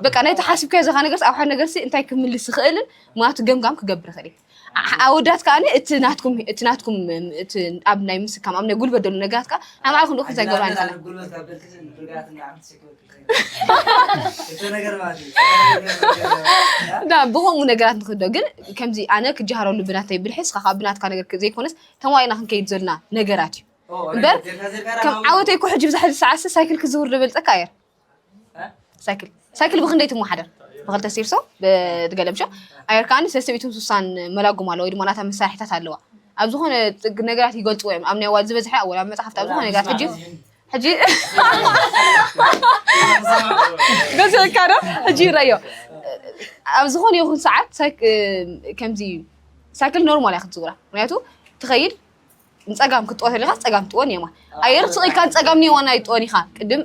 በቃ ናይቲ ሓሲብካዮ ዘኻ ነገርስ ኣብ ሓደ ነገርሲ እንታይ ክምልስ ዝኽእልን ምክንያቱ ገምጋም ክገብር ይኽእል እዩ ዓ- ኣወዳት ከዓ እቲ ናትኩም እቲ ናትኩም እም፣ እቲ ኣብ ናይ ምስካም ኣብ ናይ ጉልበት ዘሎ ነገራት ከዓ ናይ ባዕልኩም ልእኹም እንታይ ገብራ ንኽእላ ጉልበት ካብ በልክስ ንርግኣት እና ዓመት ሸክበት እቲ ነገር ማለት እዩ እና ብኸምኡ ነገራት ንክዶ ግን ከምዚ ኣነ ክጀሃረሉ ብናተይ ብልሒ እስኻ ካብ ብናትካ ነገር ዘይኮነስ ተማይና ክንከይድ ዘለና ነገራት እዩ እምበር ከም ዓወተይ እኮ ሕጂ ብዛሕዚ ሰዓት ሳይክል ክዝውር ዝበልፀካ እየ ሳይክል ሳይክል ብክንደይ ትመሓደር ብክልተ ሲርሶ ብገለምሾ ኣየር ከዓኒ ሰለስተ ሚእትን ስሳን መላጉም ኣለዋ ወይ ድማ ናታ መሳርሒታት ኣለዋ ኣብ ዝኾነ ጥግ ነገራት ይገልፅዎ እዮም ኣብ ናይ ዋል ዝበዝሐ ኣብ ወላ መፅሓፍቲ ኣብ ዝኾነ ነገራት ሕጂ ሕጂ ገዘካ ዶ ሕጂ ይረዮ ኣብ ዝኾነ ይኹን ሰዓት ሳይክ- ከምዚ ሳይክል ኖርማል እያ ክትዝውራ ምክንያቱ ትኸይድ ንጸጋም ክትጥወ ተሊኻ ጸጋም ትጥወ ንየማን ኣየር ትኽኢልካ ንጸጋም ንየማን ኣይጥወን ኢኻ ቅድም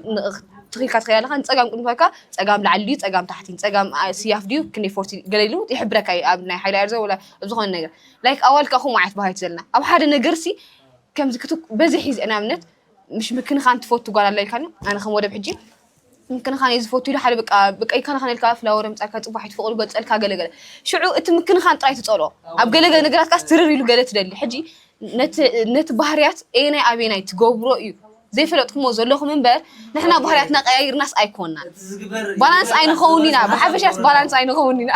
ትኽኢልካ ትኸዳ ኣለኻ ንጸጋም ቅድም ትኸካ ጸጋም ላዕሊ ድዩ ጸጋም ታሕቲ ጸጋም ስያፍ ድዩ ክንደይ ፎርቲ ገለ ኢሉ ይሕብረካ እዩ ኣብ ናይ ሓይሊ ኣየር ዘ ወላ ኣብ ዝኾነ ነገር ላይክ ኣዋልካ ከምኡ ዓይነት ባህሪ ዘለና ኣብ ሓደ ነገርሲ ከምዚ ክት በዚ ሒዝ ንኣብነት ምሽ ምክንኻን ትፈቱ ጓል ኣላ ኢልካኒ ኣነ ከም ወደብ ሕጂ ምክንኻን እየ ዝፈቱ ኢሉ ሓደ በቃ በቃ ይከናኸን ኢልካ ፍላወር ኣምጻልካ ጽቡሕ ኣይትፍቕዱ ገልጸልካ ገለ ገለ ሽዑ እቲ ምክንኻን ጥራይ ትጸልኦ ኣብ ገለ ገለ ነገራት ካስ ትርር ኢሉ ገለ ትደሊ ሕጂ ነቲ ባህርያት ኤናይ ኣቤናይ ትገብሮ እዩ ዘይፈለጥኩሞ ዘለኹም እምበር ንሕና ባህርያትና ቀያይርናስ ኣይኮናን ባላንስ ኣይንኸውን ኢና ብሓፈሻስ ባላንስ ኣይንኸውን ኢና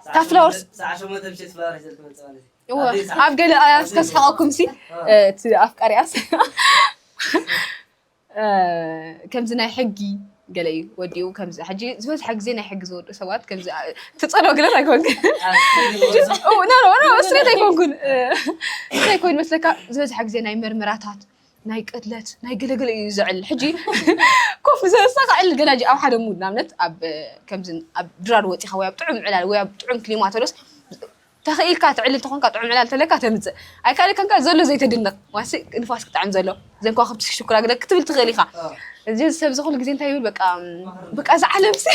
ካብ ፍላወርስ ኣብ ገለ ኣያስ ከስሕቐኩም ሲ እቲ ኣፍቃሪያስ ከምዚ ናይ ሕጊ ገለ እዩ ወዲኡ ከምዚ ሕጂ ዝበዝሐ ግዜ ናይ ሕጊ ዝወዱ ሰባት ከምዚ ትጸሎ ግለት ኣይኮንኩን ስሬት ኣይኮንኩን እንታይ ኮይኑ መስለካ ዝበዝሐ ግዜ ናይ መርመራታት ናይ ቅድለት ናይ ገለገለ እዩ ዝዕል ሕጂ ኮፍ ዘሰካዕል ገና ኣብ ሓደ ሙድ ንኣብነት ኣብ ከምዚ ኣብ ድራር ወፂኻ ወይ ኣብ ጥዑም ዕላል ወይ ኣብ ጥዑም ክሊማ ተሎስ ተኺኢልካ ትዕሊ እንተኾንካ ጥዑም ዕላል ተለካ ተምጽእ ኣይካልካን ከኣ ዘሎ ዘይተድንቅ ዋሲ ንፋስ ክጥዕም ዘሎ ዘን ከዋኽብቲ ክሽኩራ ግደ ክትብል ትኽእል ኢኻ እዚ ሰብዚ ኩሉ ግዜ እንታይ ይብል በቃ በቃ እዚ ዓለምሲ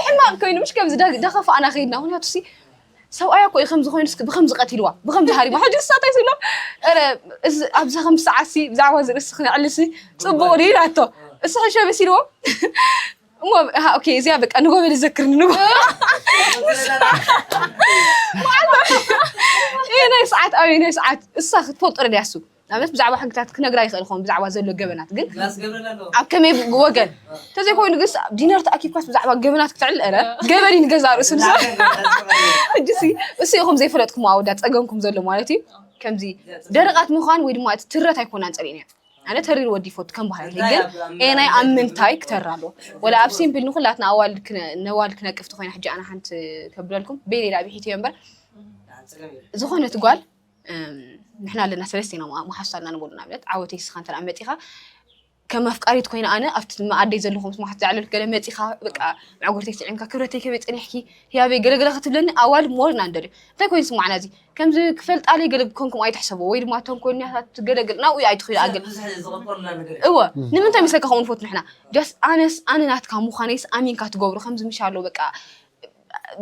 ሕማቅ ኮይኑ ምሽ ከምዚ ዳኸፋእና ከይድና ምክንያቱ ሲ ሰብኣያ እኮ እዩ ከምዚ ኮይኑ እስኪ ብከምዚ ቀቲልዋ ብከምዚ ሃሪማ ሕጂ ንሳ እንታይ ስብሎ ረ እዚ ኣብዛ ከም ሰዓትሲ ብዛዕባ እዚ ርእሲ ክነዕልሲ ጽቡቅ ድዩ ኢላቶ እሱ ሕሸ መሲልዎ እሞ ኣሃ ኦኬ እዚኣ በቃ ንጎ በለ ዘክርኒ ንጎ ይሄ ናይ ሰዓት ኣብ ናይ ሰዓት እሳ ክትፈልጦ ድያ እሱ ንኣብነት ብዛዕባ ሕግታት ክነግራ ይኽእል ኾን ብዛዕባ ዘሎ ገበናት ግን ኣብ ከመይ ወገን እንተዘይኮይኑ ግስ ዲነር ተኣኪብካስ ብዛዕባ ገበናት ክትዕል ረ ገበን እዩ ንገዛ ርእሱ ንሳ ሕጂሲ እሱ ኢኹም ዘይፈለጥኩም ኣወዳት ፀገምኩም ዘሎ ማለት እዩ ከምዚ ደረቓት ምዃን ወይ ድማ እቲ ትረት ኣይኮናን ፀሪእን እያ ኣነ ተሪር ወዲ ይፈቱ ከም ባህሪ ግን ኤናይ ኣብ ምንታይ ክተር ኣሎ ወላ ኣብ ሲምፕል ንኩላትና ኣዋልድ ነዋልድ ክነቅፍቲ ኮይና ሕጂ ኣነ ሓንቲ ከብለልኩም ቤሌላ ብሒት እዮ እምበር ዝኾነት ጓል ንሕና ኣለና ሰለስተ ኢና መሓሱ ኣለና ንበሉ ንኣብነት ዓወተይ ስኻ እንተ መፂኻ ከም ኣፍቃሪት ኮይነ ኣነ ኣብቲ መኣደይ ዘለኹ ምስ መሓት ዝዓለልኩ ገለ መፂኻ በቃ መዕጉርተይ ስዒምካ ክብረተይ ከበይ ፀኒሕኪ ህያበይ ገለገለ ክትብለኒ ኣዋልድ ሞር ኢና ንደልዩ እንታይ ኮይኑ ስማዕና እዚ ከምዚ ክፈልጣ ለይ ገለ ከምኩም ኣይትሕሰቡ ወይ ድማ እተን ኮይንያታት ገለ ገለ ናብኡ ኣይትኽዩ ኣግል ብዙሕ ዝቕበሉና ነገር እዩ እወ ንምንታይ መስለካ ከምኡ ንፈቱ ንሕና ጃስ ኣነስ ኣነ ናትካ ምዃነይስ ኣሚንካ ትገብሮ ከምዚ ምሻሎ በቃ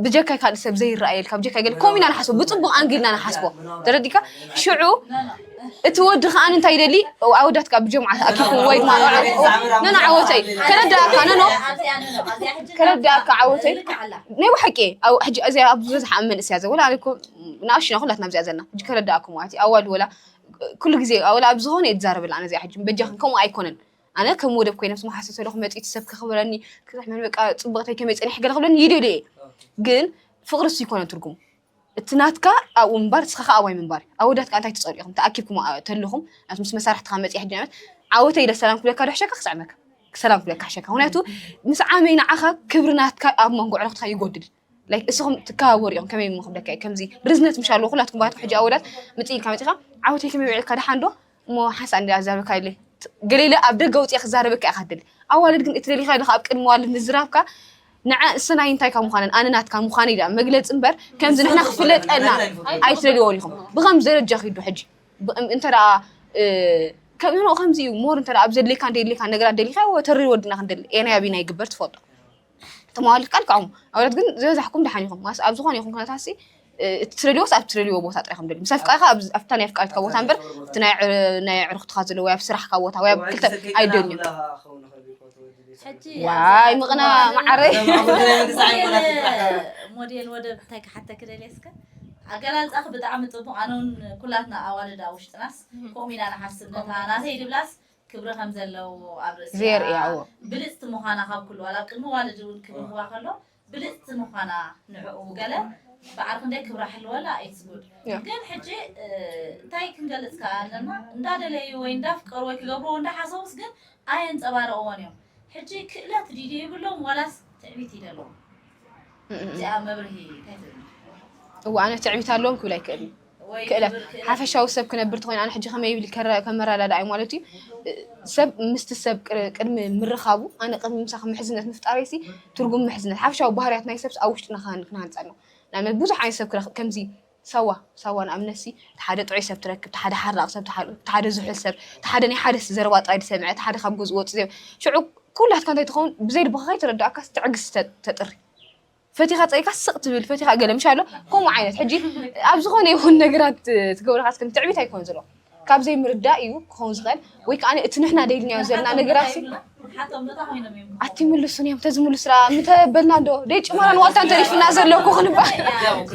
ብጀካይ ካልእ ሰብ ዘይረኣየልካ ብጀካይ ገለ ከምኡ ኢና ንሓስቦ ብጽቡቕ ኣንግል ኢና ንሓስቦ ተረዲእካ ሽዑ እቲ ወዲ ከዓ እንታይ ይደሊ ኣወዳት ከዓ ብጀምዓ ተኣኪቡ ወይ ድማ ነኖ ዓወተይ ከረዳእካ ነኖ ከረዳእካ ዓወተይ ናይ ብሓቂ ሕጂ እዚኣ ኣብ ዝበዝሓ ኣብ መንእስያ ዘ ወላ ኣነኮ ንኣሽና ኩላትና ኣብዚኣ ዘለና ሕጂ ከረዳእኩም ማለት እዩ ኣዋል ወላ ኩሉ ግዜ ወላ ኣብ ዝኾነ እየ ትዛረበላ ኣነ እዚኣ ሕጂ በጃኽን ከምኡ ኣይኮነን ኣነ ከም ወደብ ኮይነ ምስ መሓሰብ ተለኹ መፅኢት ሰብ ከኽብረኒ ክሕመን በቃ ፅብቕተይ ከመይ ፀኒሕ ገለ ክብለኒ ይደልየ ግን ፍቕርስ ይኮነ ትርጉም እቲ ናትካ ኣብኡ ምንባር ንስኻ ከኣ ኣባይ ምንባር ኣወዳት ከኣ እንታይ ትጸልኡ ኢኹም ተኣኪብኩም ኣ- ተለኹም ናብቲ ምስ መሳርሕትኻ መጺኣ ሕጂ ንኣብነት ዓወተይ ኢለ ሰላም ክብለካ ዶ ሕሸካ ክስዕመካ ሰላም ክብለካ ሕሸካ ምክንያቱ ምስ ዓመይ ንዓኻ ክብሪ ናትካ ኣብ መንጎ ኣዕሩኽትካ ይጎድል ላይክ እስኹም ትከባበሩ ኢኹም ከመይ እሞ ክብለካ እየ ከምዚ ርዝነት ምሽ ኣለዎ ኩላትኩም ባትኩም ሕጂ ኣወዳት ምጺኢልካ መጺኻ ዓወተይ ከመይ ውዒልካ ደሓን ዶ እሞ ሓንሳእ እንድያ ዛረብካ ኢለ ገሊለ ኣብ ደገ ውጽኣ ክዛረበካ ኢኻ ትደሊ ኣዋልድ ግን እቲ ደሊኻዮ ኣለኻ ኣብ ቅድሚ ኣዋልድ ምዝራብካ ንዐእሰናይ እንታይካ ምዃነን ኣነ ናትካ ምዃነይ ድኣ መግለጺ እምበር ከምዚ ንሕና ክፍለጠልና ኣይትደልዮን ኢኹም ብኸምዚ ደረጃ ኪዱ ሕጂ እንተ ከም ከምዚ እዩ ሞር እንተ ኣብ ዘድልየካን ደየድልየካን ነገራት ደሊኻዮ ተሪ ወድና ክንደሊ ኤናይ ኣቢና ይግበር ትፈልጦ እቲ መዋሊ ፍቃድ ክዕሙ ኣውለት ግን ዝበዛሕኩም ደሓን ይኹም ማስ ኣብ ዝኾነ ይኹም ኩነታት ሲ እቲ ትደልዎስ ኣብ ትደልዎ ቦታ ጥራይ ከም ደልዩ ምሳይ ፍቃድካ ኣብታ ናይ ፍቃድካ ቦታ እምበር እቲ ናይ ዕርክትካ ዘለዎ ወይ ኣብ ስራሕካ ቦታ ወይ ኣብ ክልተ ኣይደልዩ ዋይ ምቕና ማዓረይ ሞዴል ወደብ እንታይ ክሓተ ክደልየስከ ኣገላልፃኺ ብጣዕሚ ፅቡቅ ኣነ እውን ኩላትና ኣዋልድ ኣብ ውሽጥናስ ከምኡ ኢና ንሓስብ ነታ ናተይ ድብላስ ክብሪ ከም ዘለዎ ኣብ ርእሲኣ ብልጽቲ ምዃና ካብ ኩሉ ዋላ ኣብ ቅድሚ ዋልድ እውን ክብህግዋ ከሎ ብልጽቲ ምዃና ንዕኡ ገለ በዓል ክንደይ ክብራ ሕልወላ ኢትስ ጉድ ግን ሕጂ እንታይ ክንገልጽ ከኣ ኣለና እንዳደለዩ ወይ እንዳፍቀሩ ወይ ክገብርዎ እንዳሓሰቡስ ግን ኣየንጸባረቕዎን እዮም ሕጂ ክእለት ዲዲ ይብሎም ዋላስ ትዕቢት ይደለዎም እዚኣ መብርሂ እንታይ ትብል እዋ ኣነ ትዕቢት ኣለዎም ክብል ኣይክእልን ክእለት ሓፈሻዊ ሰብ ክነብር ተኾይኑ ኣነ ሕጂ ከመይ ኢሊ ከመረዳድኣዮም ማለት እዩ ሰብ ምስቲ ሰብ ቅድሚ ምርኻቡ ኣነ ቅድሚ ምሳኺ ምሕዝነት ምፍጣረይ ሲ ትርጉም ምሕዝነት ሓፈሻዊ ባህርያት ናይ ሰብ ኣብ ውሽጥና ክንሃንጽ ኣለዎ ንኣብነት ብዙሕ ዓይነት ሰብ ክረክብ ከምዚ ሳዋ ሳዋ ንኣብነት ሲ ሓደ ጥዑይ ሰብ ትረክብ ሓደ ሓራቕ ሰብ ሓደ ዝሑል ሰብ ሓደ ናይ ሓደ ዘረባ ጥራይ ዝሰምዐ ሓደ ካብ ገዝኡ ወጽእ ዘይ ሽዑ ኩላትካ እንታይ ትኸውን ብዘይ ልብኻ ከይተረዳእካስ ትዕግስቲ ተጥሪ ፈቲኻ ጸይካ ስቕ ትብል ፈቲኻ ገለ ምሽ ኣሎ ከምኡ ዓይነት ሕጂ ኣብ ዝኾነ ይኹን ነገራት ትገብረካ እስከ ትዕቢት ኣይኮን ዘሎ ካብ ዘይምርዳእ እዩ ክኸውን ዝኽእል ወይ ከዓ እቲ ንሕና ደይልናዮ ዘለና ነገራት ኣትምልሱን እዮም ተዝምልሱና ምተበልና ዶ ደይ ጭመራን ዋልታን ተሪፍና ዘለኩ ክንባ